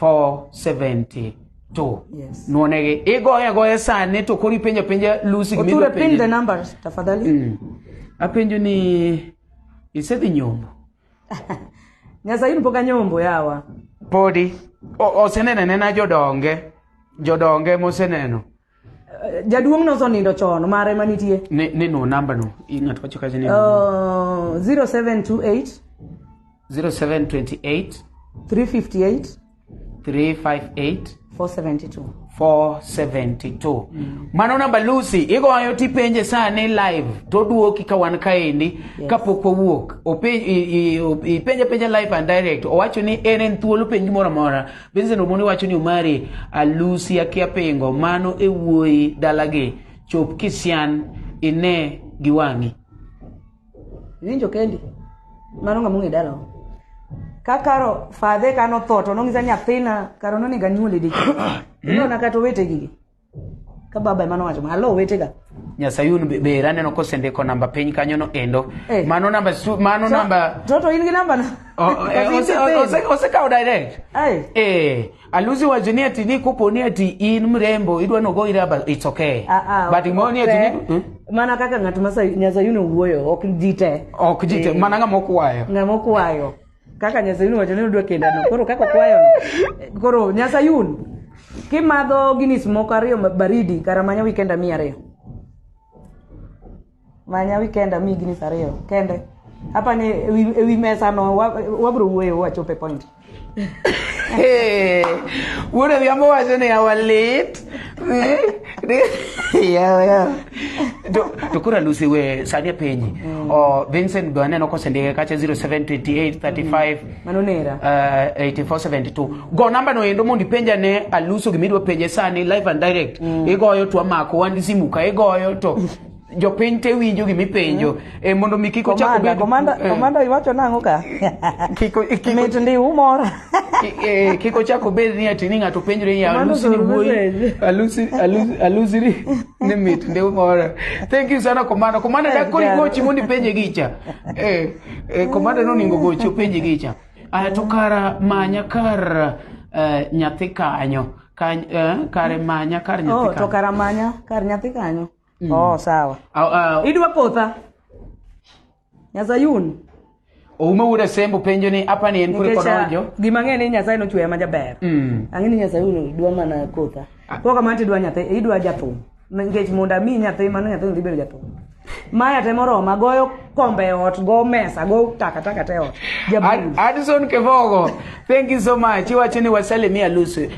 472 Yes. nwonegi igoye agoya sani to koro ipenjo penja lusi gima Oture idwa pin the penjani. numbers tafadhali. Mm. apenjo ni isedhi nyombo Nyasaye in pok anyombo yawa. podi O- osenenene na jodonge jodonge moseneno jaduong' no osonindo chon mare manitie ne ne no namba no i- ng'ato wacho kacha ni uh, 0728 0728 358 358 472 472 mano namba lucy igoyo tipenje sani live toduoki ka wan kaendi Yes. kapok wawuok Ope- i- i- o- ipenje penje live and direct owacho ni en en thuolo penj moro amora Vincent Omoni wacho ni Omari alusi akia pingo mano e wuoyi dalagi chop kisian ine gi wang'i. Iwinjo kendi? Mano ng'ama ong'e dalawa. Ka karo fadhe ka notho to nong'isa ni nyathina karo nonego anyuole dichiel. Inona kata owete gigi. ka baba ema nowacho malo owetega nyasayun ber aneno kosendiko namba piny kanyono endo eh. mano namba mano namba toto in gi namba na oh, eh, osekawo direct eh aluzi wacho ni ati ni kopo ni ati in mrembo idwa nogo ira but it's okay ah, ah, but mo ni ati ni hmm? mana kaka ng'at ma nyasayun owuoyo ok ji te ok ji te eh. mana ng'ama okwayo ng'ama okwayo kaka nyasayun wacho ni odwa kendano koro kaka okwayono koro nyasayun kimadho ginis moko ariyo ma- baridi kara manya wikenda mi ariyo manya wikenda mi ginis ariyo kende hapa ni ewi, ewi mesa no wa- wabro wuoyo wachope point Hey, wuod Odhiambo wacho ni awalit. yawa yawa to to koro alusi we sani apenyi mm. o vincent be aneno kosendike kacha 0728 35 mano nera uh, 8472 go namba no endo mondo ipenja ne aluso gimidwa penje sani live and direct igoyo to amako wan gi simu ka igoyo to jopiny te winjo gima ipenjo eh, mondo mi kik ochak obed komanda eh, komanda iwacho nang'o ka kiko kiko mit ndi umora ki- eh, kik ochak obed ni ati ni ng'ato penjre ni alusi ni wuoyi alusi alusi alusi ni ni mit ndi umora thank you sana komanda komanda Yes, dakoni jana. gochi mondo ipenje gicha eh, eh, komanda noningo gochi openje gicha aya to kara manya kar eh, nyathi kanyo Kany- eh, kare manya kar nyathi oh to kanyo karamanya kar nyathi kanyo mm. oh sawa uh, uh, idwa potha nyazayun oume wuda sembo penjo ni apa ni en kure kodonjo gima ng'e ni nyasaye nochweya ma jaber mm. ang'e ni nyazayun dwa mana kotha ah. koro kamano tidwa nyathi idwa jathum nikech mondo ami nyathi mano nyathi dhi bedo jathum maya temo roma goyo kombe e ot go mesa go takataka te ot Adison Kevogo thank you so much iwacho ni wasalimia e Lucy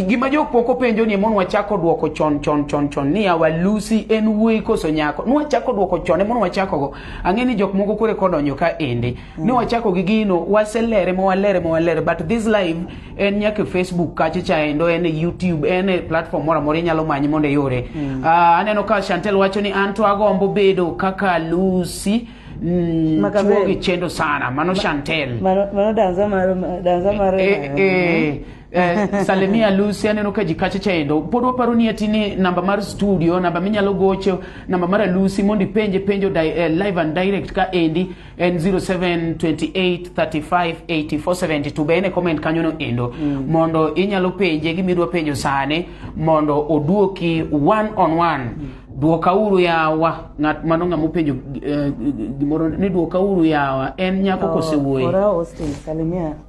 gima jokpoko penjo ni mon wachako duoko chon chon chon chon ni awa Lucy en wuoyi koso nyako nwachako duoko chon e mon wachako go ang'e ni jok moko kore kodonjo ka ende Mm. Ne wachako gi gino, waselere ma walere ma walere, but this live en nyaka Facebook kacha cha endo, en YouTube, en e platform mora mora inyalo manyi mondo iyore. Mm. Uh, aneno ka Chantel wacho ni anto agombo bedo kaka Lucy Mm, chuo gi chendo sana mano Chantel mano, mano danza maro danza maro eh, eh, eh. Eh, salimia Lucy aneno ka ji kacha chendo pod waparo ni ati ni namba mar studio namba minyalo gocho namba mar Lucy mondo ipenje penjo di, eh, live and direct ka endi en 0728358472 be en e comment kanyono endo mm. mondo inyalo penje gima idwa penjo sani mondo oduoki one on one mm. duokauru yawa ng'at mano ng'ama openjo eh, gimoro ni duokauru yawa en nyako oh, kosewuoyi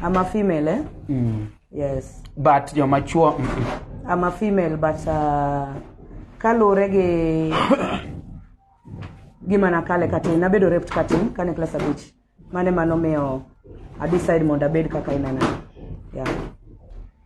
I'm a female, eh? Mm. Yes. But you're mature. Mm-mm. I'm a female, but uh, kalure gi gima nakale katin, nabedo raped katin kane class abich. Mane mano miyo I decide mondo abed kaka inena. Yeah.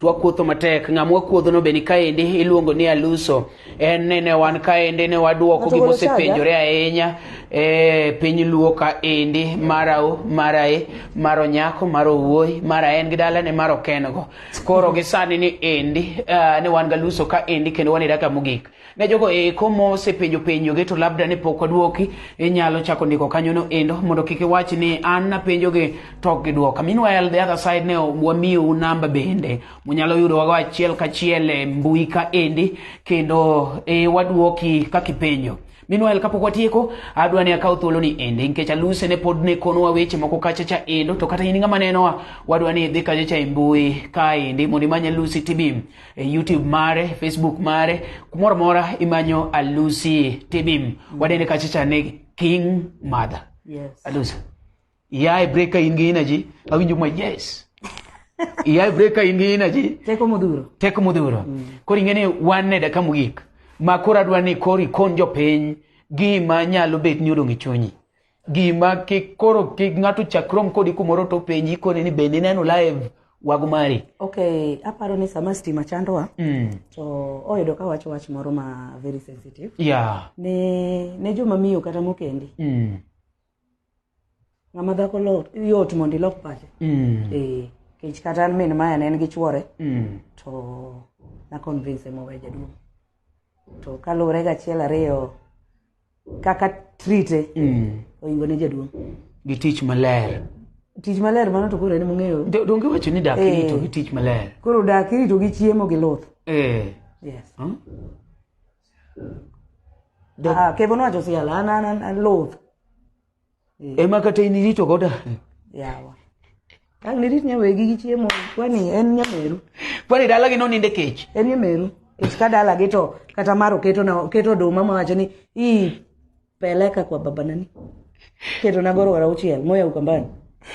twakuotho matek ng'ama wakuodhono be ni kaendi iluongo ni aluso en ni ne wan kaendi ne waduoko gima osepenjore ahinya e piny luo kaendi marau marae mar onyako mar owuoyi mar aen gi dalane mar okengo koro gi sani ni endi uh, ne wan galuso kaendi kendo wan e daka mogik ne jogo eko mosepenjo penjoge to labda ne pok odwoki inyalo chako ndiko kanyono endo mondo kik iwach ni an napenjoge to ok gidwoka meanwhile the other side ne wamiyou namba bende munyalo yudowago achiel kachiel e mbui ka endi kendo e, wadwoki kaka ipenjo meanwhile kapok watieko adwa ni akaw thuolo ni ende nikech aluse ne pod ne konowa weche moko kacha cha endo to kata in ng'ama nenowa wadwa ni idhi kacha cha e mbui ka endi mondo imany alusi tibim e youtube mare facebook mare kumoro amora imanyo alusi tibim mm. wadende kachacha ni king mother yes. alusi iyae break ka in gi energy awinjo ma yes iyae break ka in gi energy teko modhuro teko modhuro mm. koro ing'e ni wan ne daka mogik ma koro adwa ni koro ikon jopiny gima nyalo bet ni odong' e chunyi gima kik koro kik ng'ato chakrom kodi kumoro to penji koni ni bende ineno live wago mari okay aparo ni sama stima chandowa mm. to oyudo ka wacho wach moro ma very sensitive yeah. ne, ne joma miyo kata mokendi mm. ng'ama dhako lot yot mondo ilok pache mm. e, kech kata an min maya ne en gi chwore mm. to na convince mowe jaduong' to kaluwore gachiel ariyo kaka trite mm. oingo ne jaduong' gi tich maler tich maler mano to koro en mong'eyo donge wacho ni dak eh. irito gi tich maler koro dak irito gi chiemo gi luth eh. yes hmm? ah, kevo nowacho siala an an an luth Eh. ema kata in irito goda yawa ang nirit nyawegi gi chiemo kwani en nyameru kwani dalagi noninde kech en nyameru kech ka dalagi to kata maro keto na keto oduma mawacho ni i peleka kwa baba nani keto na goro wara uchiel moya ukambani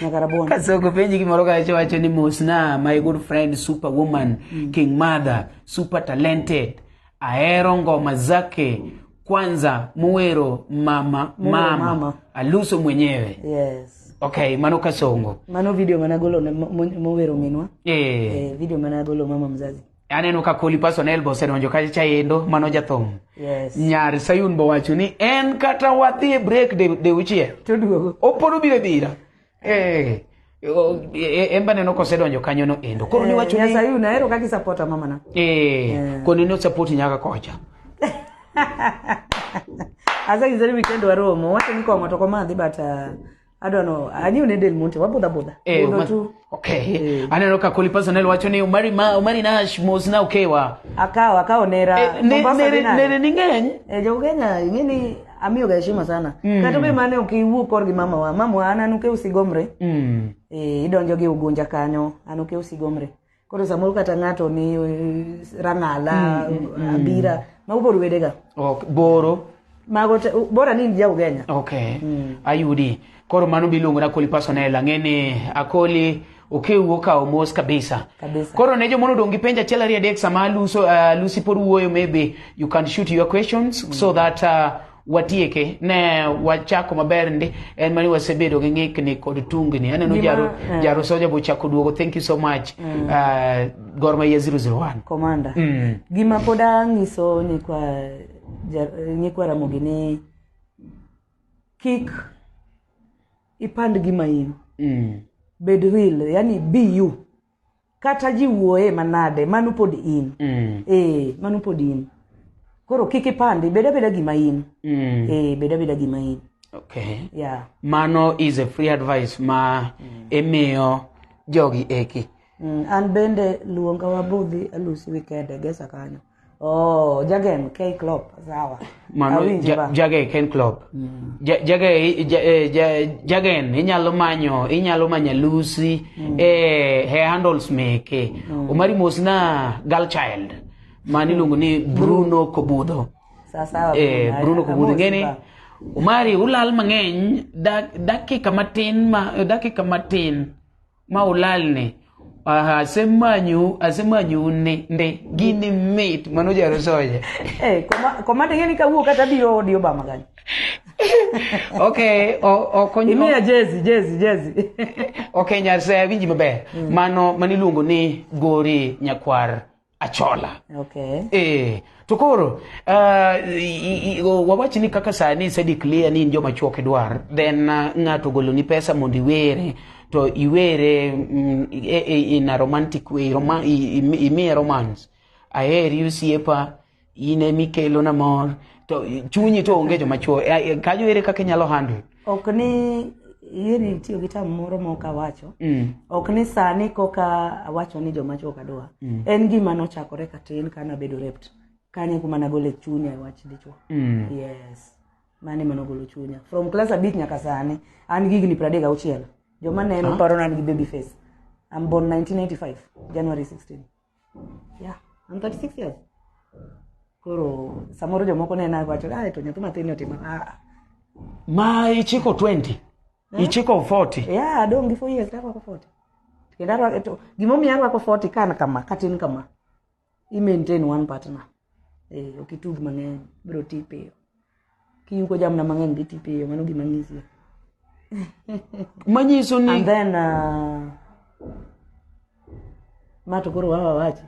nyaka rabona kasoko penji gimoro kacho wacho ni mosna my good friend super woman mm. king mother super talented ahero ngoma zake kwanza muwero mama mama, mama. aluso mwenyewe yes okay mano kasongo mano video managolo mowero minwa yeah. eh, video managolo mama mzazi aneno ka koli person elbo osedonjo kacha chaendo mano jathum yes. nyar sayun bowacho ni en kata wadhi e break de, de uchiel toduogo opolo bire bira Eh, o- e- e- emba neno kosedonjo kanyo no endo koro niwacho ni Nyasaye unahero kaka isapota mamana. eh, koro neno sapoti nyaka kocha Asa kizari weekend waromo, wacho ni kong'o to komadhi but uh, I don't know. Anyi une del monte, wabudha budha. Eh, Budho Omar- tu. okay aneno ka koli personal wacho ni umari ma umari nash mos na ukewa Akawo, akawo nera. Eh, ne- Mombasa nere dinari. nere ni ng'eny Eh, jo Kenya, ing'e ni amiyo ga heshima sana mm. kata be mane ok iwuo kor gi mama wa mama wa an anuke usigomre mm. e, idonjo gi ugunja kanyo anuke usigomre koro samoro kata ng'ato ni eh, rang'ala mm, mm, mm. abira mm. mago pod wedega okay. boro mago bora ni in ja ugenya okay. mm. ayudi Koro mano biluongo na Koli Pasonel, ang'e ni Akoli okewu okawo mos kabisa. kabisa. Koro ne jomono odong' gi penj achiel ariyo adek sama Luso, uh, Lucy pod wuoyo maybe you can shoot your questions mm. so that uh, watieke ne wachako maber ndi en mani wasebedo gi ng'ikni kod tungni aneno jaro, uh, jaro soja bo chako duogo thank you so much mm. uh, gor mahia 001 commander mm. gima pod ang'iso nyikwa nyikwa ramogi ni kik ipand gima in mm. bed real yani be you kata ji wuoye manade mano pod in mm. e mano pod in koro kik ipandi bed abeda gima in mm. e bed abeda gima in okay. yeah. mano is a free advice ma mm. imiyo jogi eki mm. an bende luonga wabudhi alusi wikende gesa kanyo Oh, Jurgen K. Klopp, sawa. Mano Awinje ja- ba. Jage Ken Klopp. Ja- Jage ja- eh, ja- Jagen inyalo manyo inyalo manyo Lucy eh he handles meke. Omari mos na girl child. Mani luongo ni Bruno Kobudo. Sawa sawa. Eh Bruno, Bruno Kobudo amosi ngeni ba. Omari ulal mang'eny dak- dakika matin ma dakika matin ma ulalne Aha, asemanyu asemanyu ne nde gini mit mano jaro soja Eh, koma- komanda ing'e ni kawuok kata biro odi obama kanyo okay o- okonyo imiya jezi jezi jezi okay nyase awinji maber mano mano iluongo ni gori nyakwar Achola. Okay. Eh, to koro uh, wawach ni kaka sani ise declare ni in joma chuok idwar then uh, ng'ato goloni pesa mondo iwere to iwere mm, e, e, in a romantic way roma, imiye romance aheri osiepa in ema ikelo na mor to chunyi to onge joma chuo Eh, eh, kanyo ere kaka inyalo handle ok ni iri tiyo gi tam moro ma ok awacho Mm. ok ni sani koka awacho ni joma chuo kadwa Mm. en gima nochakore katin ka nabedo rept kanye kuma nagole chunya e wach dichuo Mm. yes mane mano golo chunya from class abich nyaka sani an gi higni pradek auchiel joma neno paro ni an gi baby face am born 1985 january 16 ya I'm 36 years koro samoro jomoko nena wacho ah to nyathi matin otimo ah ma ichiko 20 ichiko 40 yeah adong' gi 4 years to arwako 40 kendo arwako to gimomiyo arwako 40 kan kama katin kama i maintain one partner eh, ok itug mang'eny biro ti piyo kiyugo jamna mang'eny dhi ti piyo mano gima ng'isie manyiso ni and then uh, ma to koro wawa wachi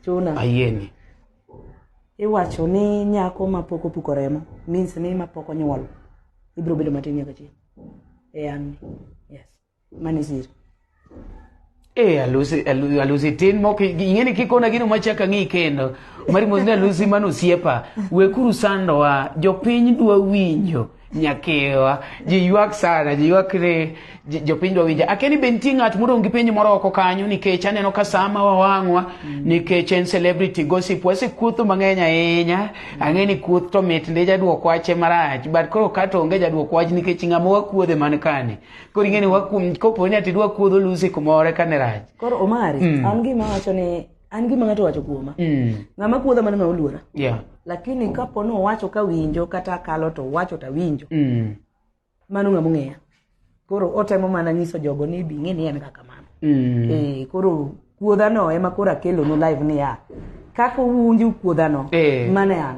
chuna ayieni iwacho ni nyako ma pok opuko remo means ni ma pok onyuol ibiro bedo matin nyaka chieng' e an yes ma ne sir Eh, alusi alu- alusi tin moko ing'e ni kikona gino machaka ng'i kendo mari mos ni alusi mano osiepa wekuru sandowa jopiny dwa winjo nyakewa ji ywak sana ji ywak ni ji- jopiny dwa winjo akia ni be nitie ng'at modong' gi penjo moro oko kanyo nikech aneno ka sama wawang'wa nikech en celebrity gossip wasekuotho mang'eny ahinya ang'e ni kuoth to mit ndi jadwok wache marach but koro kato onge jadwok wach nikech ng'ama wakuodhe man kani koro ing'eni wakum kopo ni ati dwa kuodho lusi kumore ka ne rach koro omari Mm. an gima wacho ni an gima ng'ato wacho kuoma Mm, ng'ama kuodha mano ng'ama oluora yeah, lakini kapo ni owacho ka winjo kata akalo to owacho to awinjo mm, mano ng'ama ong'eya koro otemo mana nyiso jogo ni bi ng'e ni en kaka mano mm. Eh, koro kuodhano ema koro akelonu live niya kaka uwinjo kuodhano Eh. mane an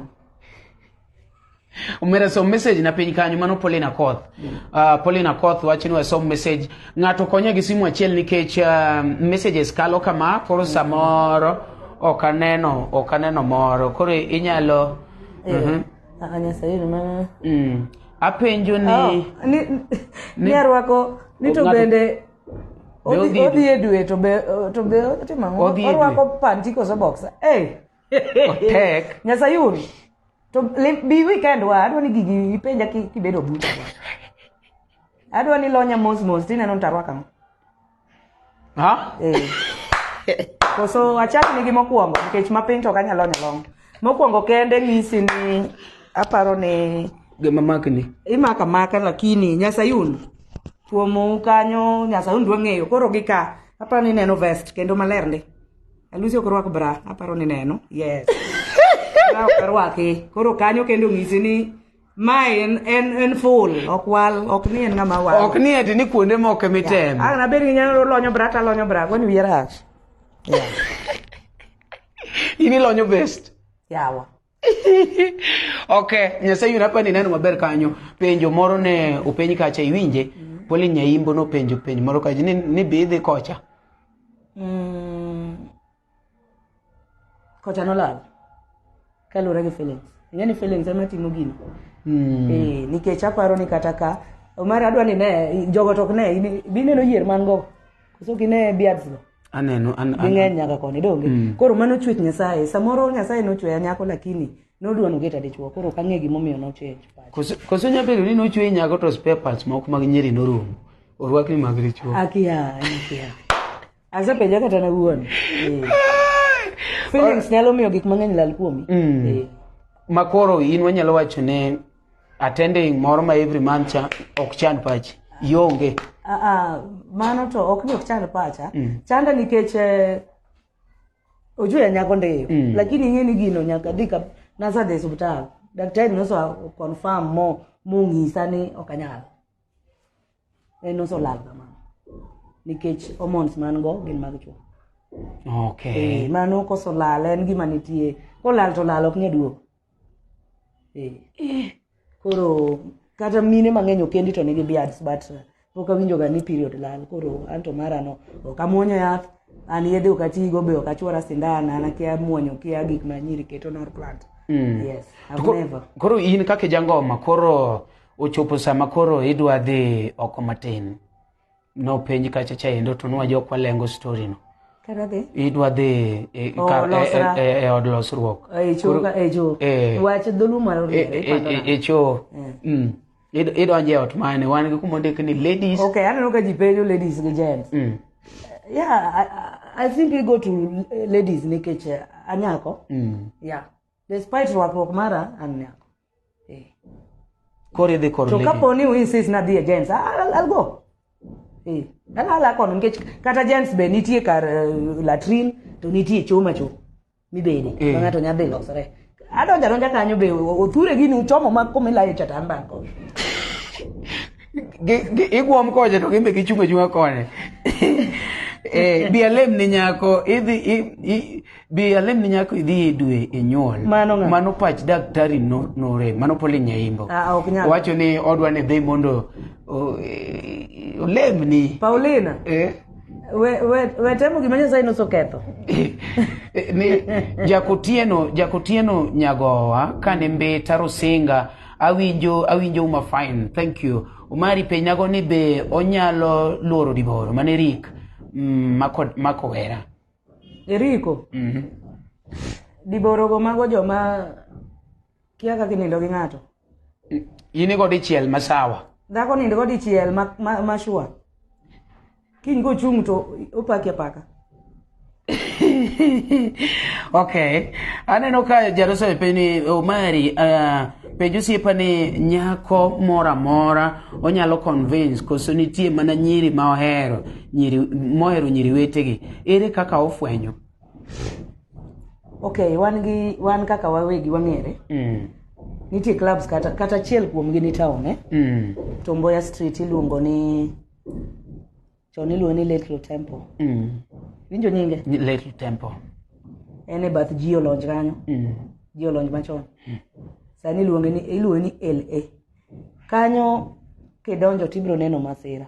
omera som message na piny kanyo mano Pauline Akoth uh, Pauline Akoth wacho ni wasom message ng'ato konya gi simu achiel nikech uh, messages kalo kama koro samoro ok aneno ok aneno moro koro inyalo Mhm. Aka Nyasaye yud mana. Mm. apenjo ni Oh, ni- ni arwako ni to Ng'ato- bende odhi- odhi e dwe to be to be otimo ang'o? Odhi e dwe. orwako panti koso boxer. Eh. Otek. Nyasayun. To le- bi weekend wa adwa ni gigi ipenja ki- kibedo buta. Adwa ni lonya mos mos tineno ni tarwaka ang'o. Ha? Eh. Koso achak nigi mokwongo nikech ma piny to ok anyal lonya long. Mokwongo kende ng'isi ni aparo ni Gima makni. imaka maka lakini nyasayun tuomo kanyo nyasayun dwa ng'eyo koro gi ka aparo ni neno vest kendo maler ndi Alusi ok rwak bra, aparo ni neno. Yes. Bra ok rwaki. Koro kanyo kendo ng'isi ni ma en en en full ok wal ok ni en ng'ama wal. Ok ni eti ni kuonde moko mitem. Ah, na beri nyalo lonyo bra ta lonyo bra, kwani wiye rach. Yeah. Ini lonyo best. Yawa. ok nyasaye yun apa ni neno maber kanyo penjo moro ne openj kacha iwinje mm. poli nyaimbo nopenjo penj moro kacha ni, ni be idhi kocha mm. kocha nolal kaluwore gi feelings ing'e ni feelings ema timo gino mm. e, eh, nikech aparo ni kata ka omar adwa ni ne jogo to ok ne bineno yier man go koso gine biadsgo aneno an, an, ging'eny nyaka koni donge mm. koro mano chwech nyasaye samoro nyasaye nochweya nyako lakini nodwa nogeta dichwo koro ok ang'e gimomiyo nochenj koso nya bedo ni nochweyi nyako to spare parts moko mag nyeri norumo orwakni mag dichwo akia akia asepenja kata na wuon eh. feelings nyalo miyo gik mang'eny lal kuomi mm. eh. makoro in wanyalo wacho ne attending moro ma every month cha ok chan pachi ionge Ah, ah, mano to ok ni ok chand pacha chanda nikech eh, ojuya nyako ndeyo Mm. lakini ing'e ni gino nyaka dhi ka nasadhi e osiptal daktari noso confirm mo mong'isa ni ok anyal en noso lal kamano nikech hormones man go gin mag chuo okay Eh, mano koso lal en gima nitie kolal to lal ok nyaduogo Eh. Eh. koro kata mine mang'eny okendi to nigi beards but uh, pok awinjoga ni period lal koro anto mara no ok amwonyo yath an yedhe ok atigo be ok achwora sindan an akia mwonyo kia gik ma nyiri keto nor plant mm. yes I've koro, never koro in kaka jangoma koro ochopo sama koro idwa dhi oko matin nopenj kacha chaendo to nwa jok walengo story no Kata dhi. idwa dhi e- e- Oh, kar- e- losra. e- e- e od losruok E cho ka e cho. Eh. Wach dholuo mar E- oriere. e- ipando e- nade? e cho Mm. Id- idonjo e ot mane wan gi kuma ondik ni ladies Okay, aneno ka ji penjo ladies gi gents. Mm. Yeah, I, I- I think we go to eh, ladies nikech eh, anyako. Mm. Yeah. Despite rwakruok mara an nyako. Eh. Koro idhi kor to kapo ni uinsis na dhi e gens algo eh. alala kono nikech kata gens be nitie kar uh, latrin to nitie choma cho mibede eh. ma ng'ato nyadhi losore adonja donja kanyo be othure gini uchomo ma kumilayo chatan banko igwom koche to gimbe gichung' achung'a kone eh, bi alem ni nyako idhi Bi alemni nyako idhi e dwe e nyuol. Mano ng'a? Mano pach daktari no- norem, mano pole nyaimbo. Ah, ok nyal. Wacho ni odwa ni dhi mondo o- e- olemni. Paulina, Eh? we, we, we temo gima Nyasaye nosoketho. ni jakotieno jakotieno nyagowa kane mbeta rosinga awinjo awinjo uma fine thank you umari penyago ni be onyalo luoro diboro mane rik mm, mako, mako wera Eriko. Mhm. Diborogo mago joma kia kaka inindo gi ng'ato. In igo dichiel ma sawa. Dhako nindo go dichiel ma ma, ma sure. Kiny kochung' to opaki apaka. okay. Aneno ka Jaroso penjo ni Omari uh, penjo siepa ni nyako mora mora onyalo convince koso nitie mana nyiri ma ohero. nyiri mohero nyiri wetegi ere kaka ofwenyo okay wan gi wan kaka wawegi wang'ere mm. nitie clubs kata kata achiel kuomgi ni town eh? mm. to mboya street iluongo ni chon iluongo ni little temple mm. winjo nyinge Ni little temple en e bath ji olonj kanyo mm. ji olonj machon sani iluonge ni iluonge ni la kanyo kidonjo tibiro neno masira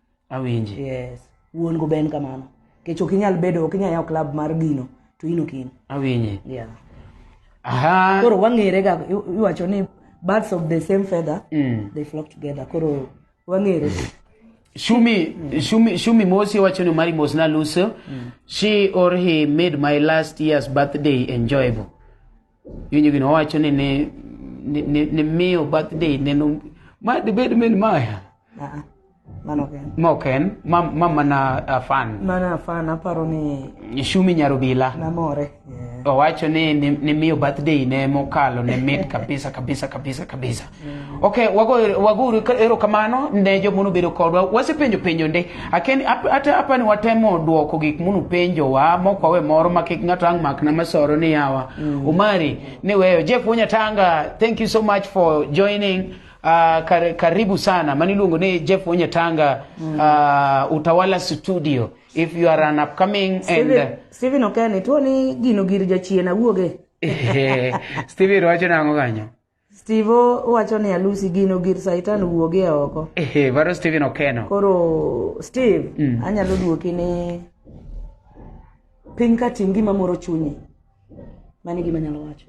awinji yes wuon go ben kamano kech ok inyal bedo ok inyal yawo club mar gino to in ok in awinji yeah aha koro wang'ere ga i- iwacho ni birds of the same feather Mm. they flock together koro wang'ere Shumi, Shumi, Shumi Mosi wacho ni mari mos naluso. She or he made my last year's birthday enjoyable. Winjo gini owacho ni ni ni, ni, ni miyo birthday neno ma dibed min maya Ah, mano ok en. ma ok en ma, ma mana uh, fan Mana fan aparo ni Shumi Nyarubila namore. Yeah. owacho ni ni, ni miyo birthday ne mokalo ne mit kabisa kabisa kabisa kabisa Ok, waguru ero kamano ne jo munu bedo kodwa. Wase penjo penjo nde. Aken ata apa ni watemo duoko gik munu penjo wa moko we moro ma kik ng'ato ang makna masoro ni yawa. Mm. Umari ni weyo. Jeff Wonya Tanga, thank you so much for joining. Uh, kar, karibu sana maniluongo ni Jeff Wonya Tanga mm. uh, Utawala Studio if you are an upcoming Steven, and uh, Steven Okene tuo ni gino gir jachien awuoge Steven wacho nango kanyo Steve wacho ni alusi gino gir saitan wuogi e oko. Ehe, varo Steven Okeno. Koro Steve, mm. anyalo duoki ni piny ka tim gima moro chunyi. Mani gima nyalo wacho.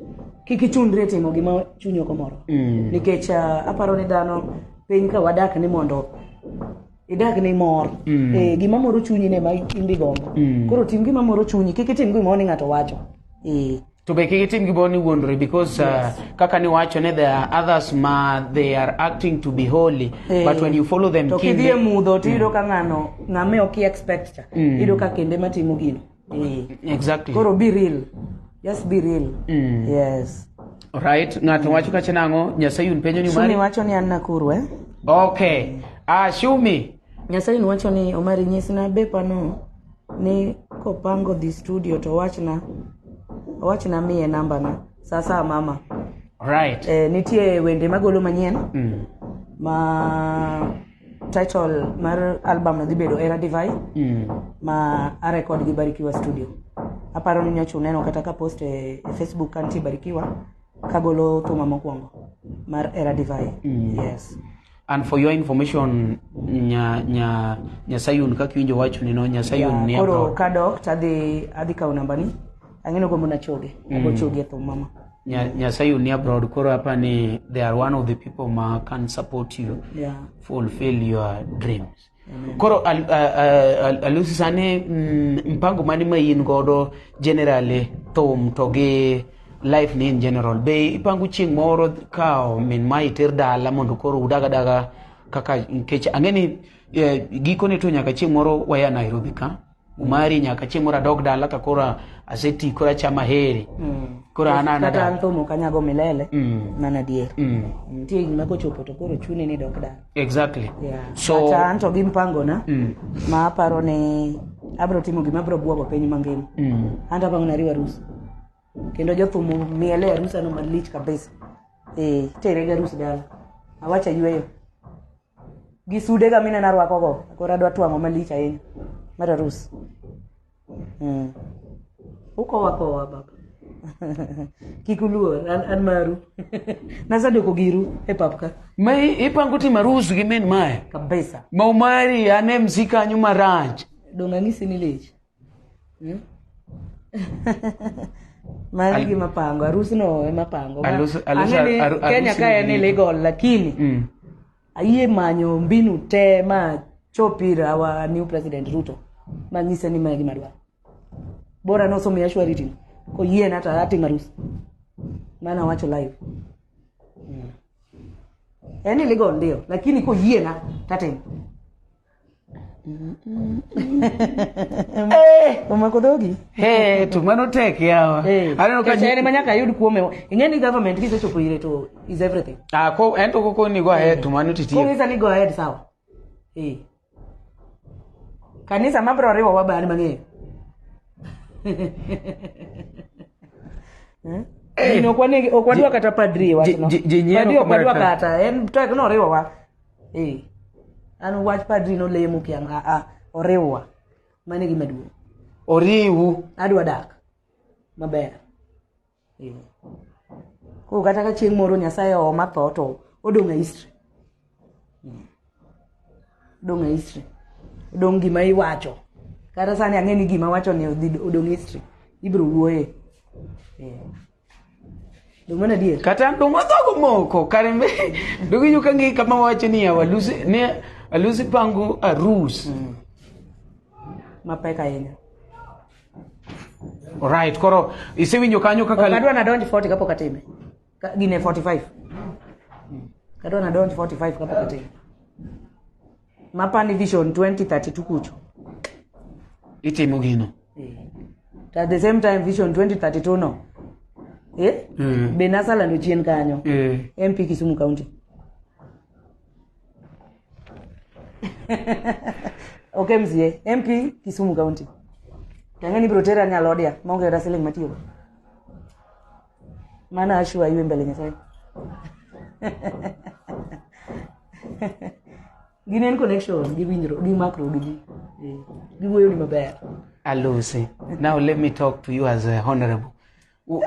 Kik ichundri e timo gima chunyi ok omoro. Mm. Nikech uh, aparo ni dhano piny ka wadak ni mondo idag ni mor mm. e, gima moro chunyi ne ma imbi gombo mm. koro tim gima moro chunyi kik itim gimoro ni ng'ato wacho e. to be kik itim gimoro ni wuondore because uh, kaka niwacho ne there are others ma they are acting to be holy Eh. but when you follow them to kidhi e kinde mudho to iyudo ka ng'ano ng'ame ok i expect cha iyudo ka kende matimo gino Eh. exactly koro be real just be real yes right ng'ato wacho kacha nang'o nyasaye un penjo ni shumi mari wacho ni an nakuru eh okay ah shumi nyasaye niwacho ni omari nyisna bepano ni kopango dhi studio to wachna wachna miye namba na saa saa mama right e, nitie wende magolo manyien mm. ma title mar album no dhi bedo era divai mm. ma arekod gi barikiwa studio aparo ni nyocha uneno kata ka post e, e facebook kantie barikiwa kagolo thuma mokwongo mar era divai mm. yes And for your information, nya, nya, nya Sayun, kaka iwinjo wacho ni no, nya Sayun ni koro abroad. kadok to adhi adhi kawo nambani ang'eno gombo nachoge ago choge e thum mama Nya, nya Sayun ni abroad, koro hapa ni they are one of the people ma can support you yeah. fulfill your dreams. koro al- a- a- al- alusi sani mm, mpango mani ma in godo generally thum to gi life ni in general be ipango chieng' moro kawo min ma iter dala mondo koro udaga daga kaka nikech ang'e ni eh, gikone to nyaka chieng' moro waya nairobi ka umari nyaka chieng' moro adog dala ka koro aseti koro achama heri mm. koro an an kata an thum ok anyago milele mm. mano adier mm. nitie higni ma kochopo to koro chuni ni dok dala exactly yeah. so kata an to gi mpangona mm. ma aparo ni abiro timo gima abiro bwogo piny mangima mm. an to apango nariwo arus kendo jothum miele arusano malich kabisa e eh, terega arus dala awacha yweyo gi sude ga minena rwako go koro adwa twang'o malich ahinya mar arus mm. ukowa kowa baba kik uluor an, an maru nasadoko giru e pap ka ma i- ipango timo arus gi min mae kabisa ma umari ane msi kanyo marach dong' ang'isi ni lich Hmm? mano Al- gima pango arusno ema pango Ma- Alus- alus- ang'e ni aru- kenya arusi ka en ni- illegal lakini Mm. ayie manyo mbinu te ma chop ir our new president ruto manyise ni mae gima dwaro bora nosomiya shwariti no koyiena to atim arus mana wacho live Mm. en illegal ndio lakini koyiena tatimo Eh. Omako dhogi. Eh, to mano tek yawa. Eh. Aneno ka jere manya ka yud kuome. Ing'e ni government kise chopo ire to is everything. Ah, ko ento ko koni go ahead to mano titie. Ko ngisa ni go ahead sawa. Eh. Kanisa mabro riwo wabani mang'eyo. Hmm? Eh. Ni okwane okwadwa kata padri wachno. Padri okwadwa kata en to noriwo wa. ee an wach padri nolemo kiam aa oriwwa mane gima duong' oriwu adwa dak maber ee koro kata ka chieng' moro nyasaye ooma tho to odong' e history Hmm. odong' e history odong' gima iwacho kata sani ang'e ni gima wacho ni odhi- odong' history ibiro wuoye ee kata dongo dhogo moko kare mbe dongo yu ka ngi kama wacho ni ya walusi ne alusi pango arus mm. mapek ahinya right koro isewinjo kanyo kaka adwa na donji 40 kapok atime gine 45 kadwa na donji 45 kapok atime mapani vision 2032 kucho itimo gino Eh. to at the same time vision 2032 no eh? Eh. be nasalando chien kanyo Eh. mp kisumu county ok msie mp kisumu county tang'e ni biro tera nyalodia maonge kata siling matiyogo mana ashu ayue mbele nyasaye gin en connection gi winjro gi makro gi ji Eh, giwuoyo ni maber Alusi, now let me talk to you as a honorable. W-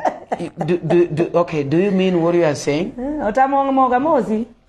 do, do, do, okay, do you mean what you are saying? Eh, otamo moga mosi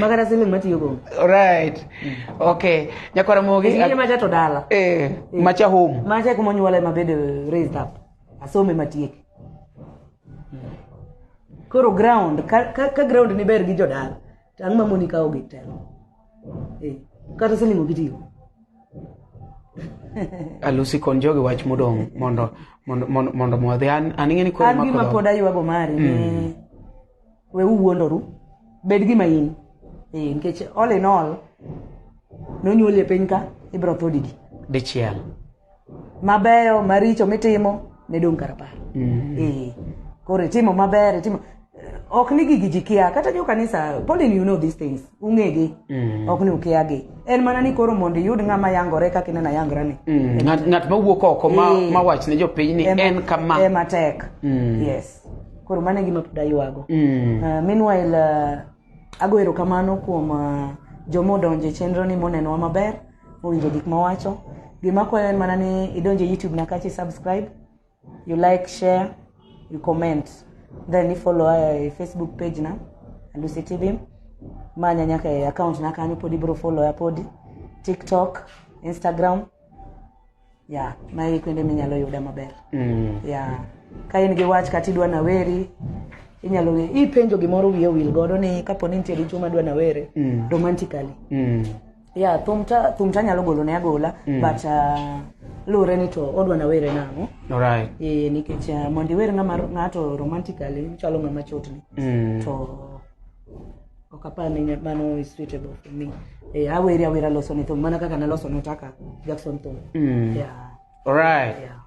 Magana siling matiyo go. Right. Okay. Nyakwara mogi. Ngine macha to dala. Eh, macha home. Macha kuma nyuola ema bede raised up. Asome matiek. Koro ground ka, ka, ka ground ni ber gi jodala. Tang ma moni kawo gi telo. Eh, kata siling ogitiyo. Alusi kon jogi wach modong mondo mondo mondo mondo an an ingeni koro makodo. An gima pod aywago mari. Mm. we uwuondoru bed gima in eh, nikech all in all nonyuoli e piny ka ibro tho digi dichiel mabeyo maricho mitimo ne dong' karapar mm. eh, koro itimo maber itimo ok ni gigi ji kia kata jo kanisa polin you know these things ung'egi mm. ok ni ukiagi en mana ni koro mondo iyud ng'ama yangore kaka ineno ayangora ni mm. ng'at mawuok oko mawach ne jopiny ni en kama ematek mm. yes koro mano e gima pod aywago Mm. Uh, meanwhile uh, ago erokamano kuom uh, joma odonjo e chenro ni monenowa maber mowinjo gik mawacho gima kwayo en mana ni idonje youtube na kachi subscribe you like share you comment then ifollow uh, e facebook page na lucy tv manya nyaka e account na kanyo pod ibiro follow ya podi tiktok instagram ya mae kuonde minyalo yuda maber mm. ya ka in gi wach kata idwa naweri inyalo ng'e ipenjo gimoro wiye wil godo ni kapo ni nitie dichuo madwa nawere mm. romantically mm. ya thum ta thum ta nyalo golo ne agola mm. but uh, luwre ni to odwa nawere nang'o right. e, nikech uh, mondo iwer ng'ato romantically chalo ng'ama chotni mm. to ok apar ni nya- mano is suitable for me eh, aweri awera loso ni thum mana kaka naloso notaka jackson thum Mm. yeah, Alright. yeah.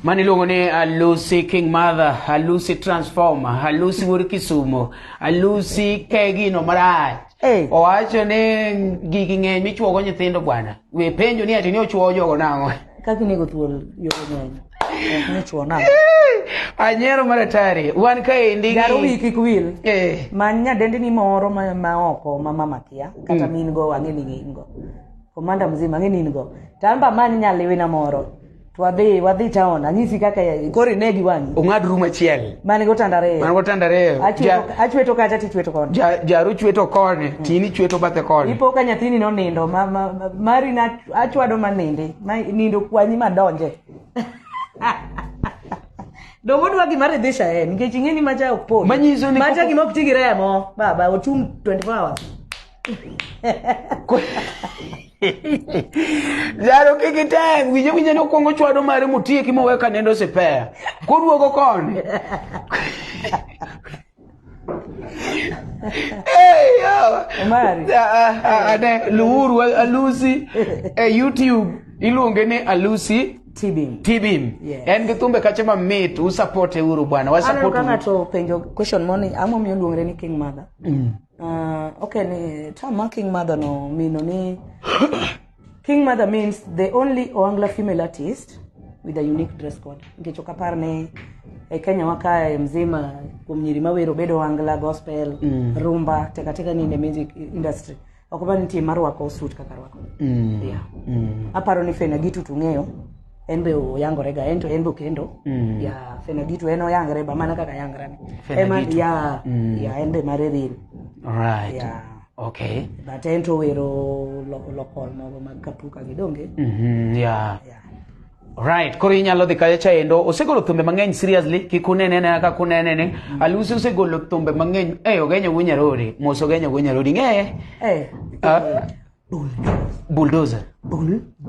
Mani luongo ni Alusi King Mother, Alusi Transformer, Alusi Wuod Kisumo, Alusi Kegino marach. Eh. Owacho ni gigi ng'eny michuogo nyithindo bwana. We penjo ni ati ni ochuogo jogo nang'o? kaka inego thuol yore ng'eny Nichuona. Anyero mar atari. Wan kaendi. Garo wi kik wil. Eh. Ma nyadendi ni moro ma, ma oko ma mama kia kata mm. min go wang'e ni in go. Komanda mzima ng'e ni in go. Tamba man nyaliwe na moro. Twadhi wadhi town anyisi kaka kori ne gi wang'i. Ung'ad room achiel. Man go tandare. Man go tandare. Achweto kacha ti chweto koni. Ja jaru chweto koni, mm. tini chweto bathe koni. Ipo ka nyathini no nindo ma, ma, ma mari na achwado ma ninde. Ma nindo kwanyi ma donje. Dongo dwa gima ridhisha en nikech ing'e ni macha ok pol. Manyiso ni macha gima ok ti gi remo. Baba ochung 24 hours. Jaro kik item winjo winjo ni okwongo chwado mare motieki mowe ka nendo sipeya. Koduogo koni. luuru alusi e youtube iluonge ni alusi tibim tibim yes. en gi thumbe kache mamit usapote uru bwana wasapote uru ng'ato penjo question moni ang'o miyo luongre ni king mother mm. uh, okay ni term ma king mother no mino ni King Mother means the only Oangla female artist with a unique dress code. Nikech ok apar ni e Kenya wakae mzima kuom nyiri mawero bedo Oangla, gospel, mm. rumba, teka teka ni in the music industry. Ok apar ni nitie marwako suit kaka rwako. Mm. Yeah. Mm. Aparo ni Fena Gitu tung'eyo en be oyangore ga en to en be okendo Mm. ya fenoditu en oyangre ba mana kaka yangre ni Fenoditu. ya Mm. ya en be mare real Right. ya Okay. but en to wero loko lokol mogo mag kapuka gi donge Mhm, yeah. ya Right, koro inyalo dhi kacha endo. Osegolo thumbe mang'eny seriously, kik unene ne kaka unene ne. Alusi osegolo thumbe mang'eny. Eh, ogenyo go nyarori, mos ogenyo go nyarori. Ng'eye. eh Ah. bulldozer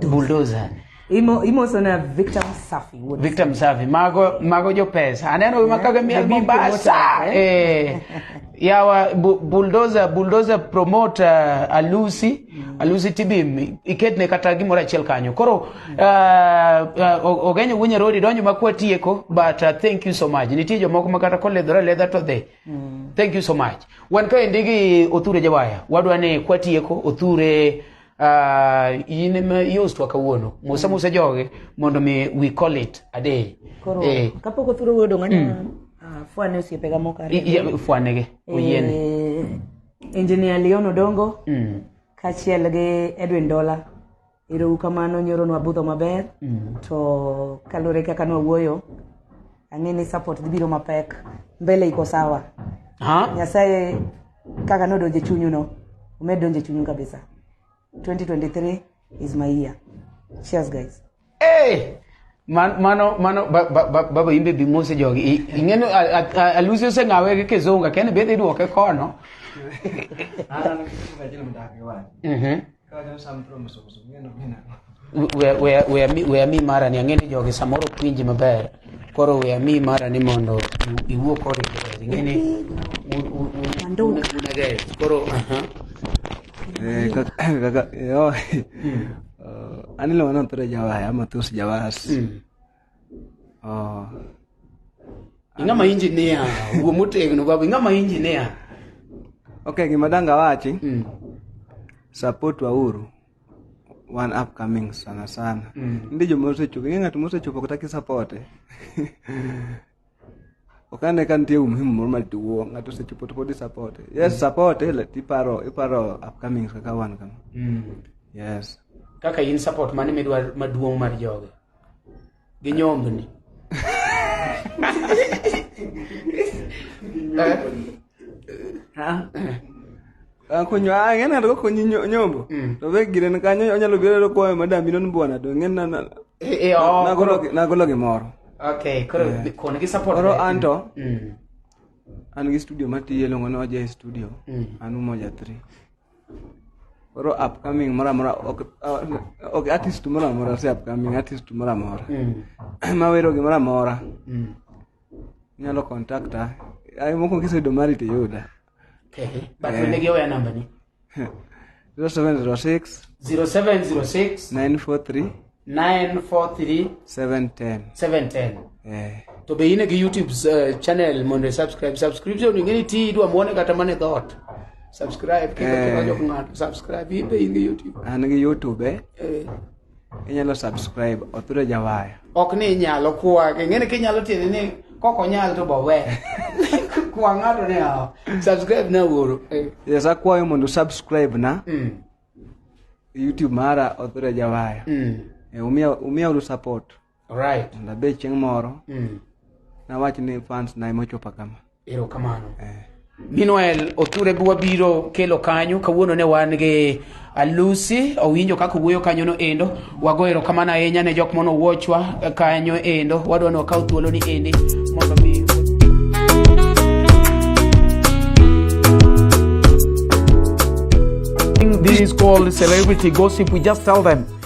bulldozer Imo, imo sana Victor Msafi. What is Victor Msafi mago mago jo pesa aneno ma kaga miel The big Mombasa promoter, eh yawa bu- bulldozer bulldozer promoter Alusi Alusi Tibim iketne kata gimoro achiel kanyo koro uh, uh, O- Ogenyo Wunya Rodi donjo ma kwatieko but uh, thank you so much nitie jomoko ma kata koledhore ledha to dhi Mm. Thank you so much. Wan ka endi gi Othure Jawaya, wadwa ni kwatieko Othure uh, in ema iostwa kawuono. Musa musa joge mondo mi we call it a day. Koro eh. kapok Othure wuoyo dong' anya mm. uh, fwane osiepe ga moko ariyo. Fwane ge, oyiene. Eh, Engineer Leon Odongo mm. kachiel gi Edwin Dola. Ero ukamano nyoro nwa budho maber mm. to kalure kaka nwa wuoyo ang'e ni support dhi biro mapek mbele iko sawa nyasaye kaka nodonje chunyu no umed donje chunyu kabisa 2023 is my year cheers guys hey! Eh! mano mano baba imbe bi mose jogi ing'eno alusi oseng'awe gi kizunga kene bedhi idwoke kono Weya- weya- weya mi- weya mi mara ni ang'e ni jogi samoro ok winji maber koro weya mi mara ni mondo iw- iwuo kod Ingereza. ing'e ni un- un- un- un- unagere. koro aha. Eh, kaka- kaka- eh, oh, eh, anilo wanampera jawaya ama tos jawas Oh. Ing'ama engineer, wuo motegno baba, ing'ama engineer. Okay, gima danga wachi. Mm. Support wauru one upcoming sana sana. Mm. Ndi jo mosechopo, ng'at mosechopo kutaki support. ok ane ka nitie umuhimu moro maduong' mm. ng'ato osechopo to pod isapote yes mm. sapote iparo iparo upcoming kaka wan kama mm. yes kaka in support mane midwa maduong' mar joge gi nyombni eh? kunywa ah, ng'e ng'ato kokonyi nyombo mm. to be gire kanyo onyalo biro to kwayo madam ino ni bwana to ng'e eh, eh, oh, nagolo gimoro okay koro eh. kone gi support koro anto mm. an gi studio matiye longo ni oja e studio mm. an umoja 3 koro upcoming moro amora ok artist moro amora se upcoming artist moro amora mawero gimoro amora inyalo kontakta ai mokwongo kiseyudo mari to iyuda Okay. But Eh. onegi oweya namba ni. 0706 0706 943 943 710 710. eh To be in a YouTube uh, channel mondo i subscribe. Subscription ingeni ti idwa muone kata mane dot. Subscribe kiko Eh. kiko jok ng'ato. Subscribe in be in gi YouTube. an gi youtube eh Eh. inyalo subscribe opiro jawaya ok ni inyalo kwage ng'eni kinyalo tiende ni kok onyal to bowe kwa ng'ato ni awo subscribe na wuoro eh. yes akwayo mondo subscribe na mm. youtube mara opiro jawaya mm. eh, umia, umia uru support Alright. And abe chieng' moro mm. nawach ni fans na ema ochopa kama. Erokamano. Eh. Meanwhile, Othure bi wabiro kelo kanyo kawuono ne wan gi Alusi owinjo kaka wuoyo kanyo no endo wago erokamano ahinya ne jok mono wuochwa kanyo endo wadwa ni wakaw thuolo ni endi mondo mi This is called celebrity gossip. We just tell them